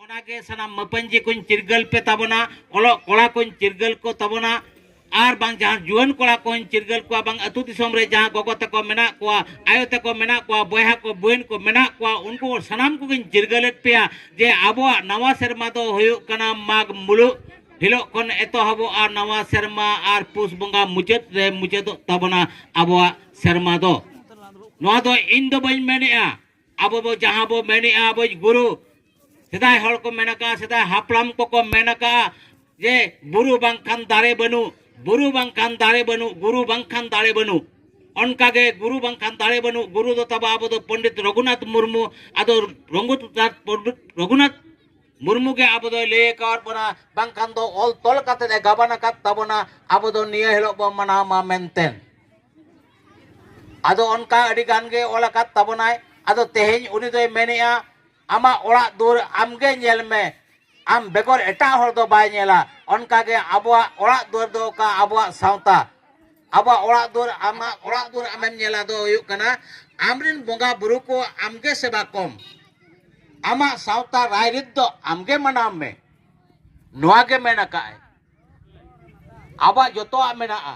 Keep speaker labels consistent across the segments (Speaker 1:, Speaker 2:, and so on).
Speaker 1: ᱚᱱᱟᱜᱮ ᱥᱟᱱᱟᱢ ᱢᱟᱹᱯᱟᱹᱧᱡᱤ ᱠᱚᱧ ᱪᱤᱨᱜᱟᱹᱞ ᱯᱮ ᱛᱟᱵᱚᱱᱟ ᱚᱞᱚᱜ ᱠᱚᱲᱟ ᱠᱚᱧ ᱪᱤᱨᱜᱟᱹᱞ ᱠᱚ ᱛᱟᱵᱚᱱᱟ ᱟᱨ ᱵᱟᱝ ᱡᱟᱦᱟᱸ ᱡᱩᱣᱟᱹᱱ ᱠᱚᱲᱟ ᱠᱚᱧ ᱪᱤᱨᱜᱟᱹᱞ ᱠᱚᱣᱟ ᱵᱟᱝ ᱟᱹᱛᱩ ᱫᱤᱥᱚᱢ ᱨᱮ ᱡᱟᱦᱟᱸ ᱜᱚᱜᱚ ᱛᱟᱠᱚ ᱢᱮᱱᱟᱜ ᱠᱚᱣᱟ ᱟᱭᱳ ᱛᱟᱠᱚ ᱢᱮᱱᱟᱜ ᱠᱚᱣᱟ ᱵᱚᱭᱦᱟ ᱠᱚ ᱵᱚᱭᱤᱱ ᱠᱚ ᱢᱮᱱᱟᱜ ᱠᱚᱣᱟ ᱩᱱᱠᱩ ᱥᱟᱱᱟᱢ ᱠᱚᱜᱮᱧ ᱪᱤᱨᱜᱟᱹᱞᱮᱫ ᱯᱮᱭᱟ ᱡᱮ ᱟᱵᱚᱣᱟᱜ ᱱᱟᱣᱟ ᱥᱮᱨᱢᱟ ᱫᱚ ᱦᱩᱭᱩᱜ ᱠᱟᱱᱟ ᱢᱟᱜᱽ ᱢᱩᱞᱩᱜ ᱦᱤᱞᱳᱜ ᱠᱷᱚᱱ ᱮᱛᱚᱦᱚᱵᱚᱜᱼᱟ ᱱᱟᱣᱟ ᱥᱮᱨᱢᱟ ᱟᱨ ᱯᱩᱥ ᱵᱚᱸᱜᱟ ᱢᱩᱪᱟᱹᱫ ᱨᱮ ᱢᱩᱪᱟᱹᱫᱚᱜ ᱛᱟᱵᱚᱱᱟ ᱟᱵᱚᱣᱟᱜ ᱥᱮᱨᱢᱟ ᱫᱚ ᱱᱚᱣᱟ ᱫᱚ ᱤᱧ ᱫᱚ ᱵᱟᱹᱧ ᱢᱮᱱᱮᱜᱼᱟ ᱟᱵᱚ ᱵᱚ ᱡᱟᱦᱟᱸ ᱵᱚ ᱢᱮᱱᱮᱜᱼᱟ ᱟᱵᱚ ᱜᱩᱨᱩ ᱥᱮᱫᱟᱭ ᱦᱚᱲ ᱠᱚ ᱢᱮᱱ ᱟᱠᱟᱫᱼᱟ ᱥᱮᱫᱟᱭ ᱦᱟᱯᱲᱟᱢ ᱠᱚᱠᱚ ᱢᱮᱱ ᱟᱠᱟᱫᱼᱟ ᱡᱮ ᱵᱩᱨᱩ ᱵᱟᱝᱠᱷᱟᱱ ᱫᱟᱨᱮ ᱵᱟᱹᱱᱩᱜ ᱵᱩᱨᱩ ᱵᱟᱝᱠᱷᱟᱱ ᱫᱟᱨᱮ ᱵᱟᱹᱱᱩᱜ ᱜᱩᱨᱩ ᱵᱟᱝᱠᱷᱟᱱ ᱫᱟᱨᱮ ᱵᱟᱹᱱᱩᱜ ᱚᱱᱠᱟᱜᱮ ᱜᱩᱨᱩ ᱵᱟᱝᱠᱷᱟᱱ ᱫᱟᱲᱮ ᱵᱟᱹᱱᱩᱜ ᱜᱩᱨᱩ ᱫᱚ ᱛᱟᱵᱚ ᱟᱵᱚ ᱫᱚ ᱯᱚᱱᱰᱤᱛ ᱨᱚᱜᱷᱩᱱᱟᱛᱷ ᱢᱩᱨᱢᱩ ᱟᱫᱚ ᱨᱚᱜᱷᱩᱱᱟᱛᱷ ᱢᱩᱨᱢᱩ ᱜᱮ ᱟᱵᱚ ᱫᱚᱭ ᱞᱟᱹᱭ ᱟᱠᱟᱫ ᱵᱚᱱᱟ ᱵᱟᱝᱠᱷᱟᱱ ᱫᱚ ᱚᱞ ᱛᱚᱞ ᱠᱟᱛᱮ ᱮ ᱜᱟᱵᱟᱱ ᱟᱠᱟᱫ ᱛᱟᱵᱚᱱᱟ ᱟᱵᱚ ᱫᱚ ᱱᱤᱭᱟᱹ ᱦᱤᱞᱳᱜ ᱵᱚᱱ ᱢᱟᱱᱟᱣ ᱢᱟ ᱢᱮᱱᱛᱮ ᱟᱫᱚ ᱚᱱᱠᱟ ᱟᱹᱰᱤ ᱜᱟᱱ ᱜᱮ ᱚᱞ ᱟᱠᱟᱫ ᱛᱟᱵᱚᱱᱟᱭ ᱟᱫᱚ ᱛᱮᱦᱮᱧ ᱩᱱᱤ ᱫᱚᱭ ᱢᱮᱱᱮᱜᱼᱟ ᱟᱢᱟᱜ ᱚᱲᱟᱜ ᱫᱩᱣᱟᱹᱨ ᱟᱢᱜᱮ ᱧᱮᱞ ᱢᱮ ᱟᱢ ᱵᱮᱜᱚᱨ ᱮᱴᱟᱜ ᱦᱚᱲ ᱫᱚ ᱵᱟᱭ ᱧᱮᱞᱟ ᱚᱱᱠᱟ ᱜᱮ ᱟᱵᱚᱣᱟᱜ ᱚᱲᱟᱜ ᱫᱩᱣᱟᱹᱨ ᱫᱚ ᱚᱠᱟ ᱟᱵᱚᱣᱟᱜ ᱥᱟᱶᱛᱟ ᱟᱵᱚᱣᱟᱜ ᱚᱲᱟᱜ ᱫᱩᱣᱟᱹᱨ ᱟᱢᱟᱜ ᱚᱲᱟᱜ ᱫᱩᱣᱟᱹᱨ ᱟᱢᱮᱢ ᱧᱮᱞᱟ ᱫᱚ ᱦᱩᱭᱩᱜ ᱠᱟᱱᱟ ᱟᱢᱨᱮᱱ ᱵᱚᱸᱜᱟ ᱵᱩᱨᱩ ᱠᱚ ᱟᱢᱜᱮ ᱥᱮᱵᱟ ᱠᱚᱢ ᱟᱢᱟᱜ ᱥᱟᱶᱛᱟ ᱨᱟᱭᱨᱤᱛ ᱫᱚ ᱟᱢᱜᱮ ᱢᱟᱱᱟᱣ ᱢᱮ ᱱᱚᱣᱟ ᱜᱮ ᱢᱮᱱ ᱟᱠᱟᱫᱼᱟᱭ ᱟᱵᱚᱣᱟᱜ ᱡᱚᱛᱚᱣᱟᱜ ᱢᱮᱱᱟᱜᱼᱟ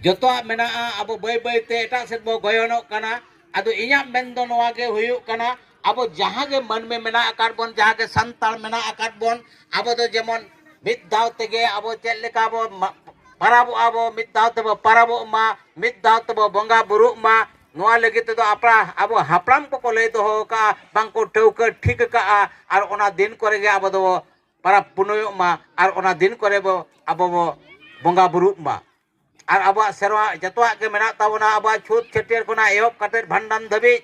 Speaker 1: ᱡᱚᱛᱚᱣᱟᱜ ᱢᱮᱱᱟᱜᱼᱟ ᱟᱵᱚ ᱵᱟᱹᱭ ᱵᱟᱹᱭᱛᱮ ᱮᱴᱟᱜ ᱥᱮᱫ ᱵᱚ ᱜᱚᱭᱚᱱᱚᱜ ᱠᱟᱱᱟ ᱟᱫᱚ ᱤᱧᱟᱹᱜ ᱢᱮᱱ ᱫᱚ ᱱᱚᱣᱟ ᱜᱮ ᱦᱩᱭᱩᱜ ᱠᱟᱱᱟ ᱟᱵᱚ ᱡᱟᱦᱟᱸ ᱜᱮ ᱢᱟᱹᱱᱢᱤ ᱢᱮᱱᱟᱜ ᱟᱠᱟᱫ ᱵᱚᱱ ᱡᱟᱦᱟᱸ ᱜᱮ ᱥᱟᱱᱛᱟᱲ ᱢᱮᱱᱟᱜ ᱟᱠᱟᱫ ᱵᱚᱱ ᱟᱵᱚ ᱫᱚ ᱡᱮᱢᱚᱱ ᱢᱤᱫ ᱫᱟᱣ ᱛᱮᱜᱮ ᱟᱵᱚ ᱪᱮᱫ ᱞᱮᱠᱟ ᱵᱚ ᱯᱟᱨᱟᱵᱚᱜᱼᱟ ᱵᱚ ᱢᱤᱫ ᱫᱟᱣ ᱛᱮᱵᱚ ᱯᱟᱨᱟᱵᱚᱜ ᱢᱟ ᱢᱤᱫ ᱫᱟᱣ ᱛᱮᱵᱚ ᱵᱚᱸᱜᱟ ᱵᱩᱨᱩᱜ ᱢᱟ ᱱᱚᱣᱟ ᱞᱟᱹᱜᱤᱫ ᱛᱮᱫᱚ ᱟᱵᱚ ᱦᱟᱯᱲᱟᱢ ᱠᱚᱠᱚ ᱞᱟᱹᱭ ᱫᱚᱦᱚ ᱟᱠᱟᱫᱼᱟ ᱵᱟᱝ ᱠᱚ ᱴᱷᱟᱹᱣᱠᱟᱹ ᱴᱷᱤᱠ ᱟᱠᱟᱫᱼᱟ ᱟᱨ ᱚᱱᱟ ᱫᱤᱱ ᱠᱚᱨᱮ ᱜᱮ ᱟᱵᱚ ᱫᱚᱵᱚ ᱯᱚᱨᱚᱵᱽ ᱯᱩᱱᱟᱹᱭᱚᱜ ᱢᱟ ᱟᱨ ᱚᱱᱟ ᱫᱤᱱ ᱠᱚᱨᱮ ᱵᱚ ᱟᱵᱚ ᱵᱚ ᱵᱚᱸᱜᱟ ᱵᱩᱨᱩᱜ ᱢᱟ ᱟᱨ ᱟᱵᱚᱣᱟᱜ ᱥᱮᱨᱣᱟ ᱡᱚᱛᱚᱣᱟᱜ ᱜᱮ ᱢᱮᱱᱟᱜ ᱛᱟᱵᱚᱱᱟ ᱟᱵᱚᱣᱟᱜ ᱪᱷᱩᱛ ᱪᱷᱟᱹᱴᱭᱟᱹᱨ ᱠᱷᱚᱱᱟᱜ ᱮᱦᱚᱵ ᱠᱟᱛᱮᱫ ᱵᱷᱟᱸᱰᱟᱱ ᱫᱷᱟᱹᱵᱤᱡ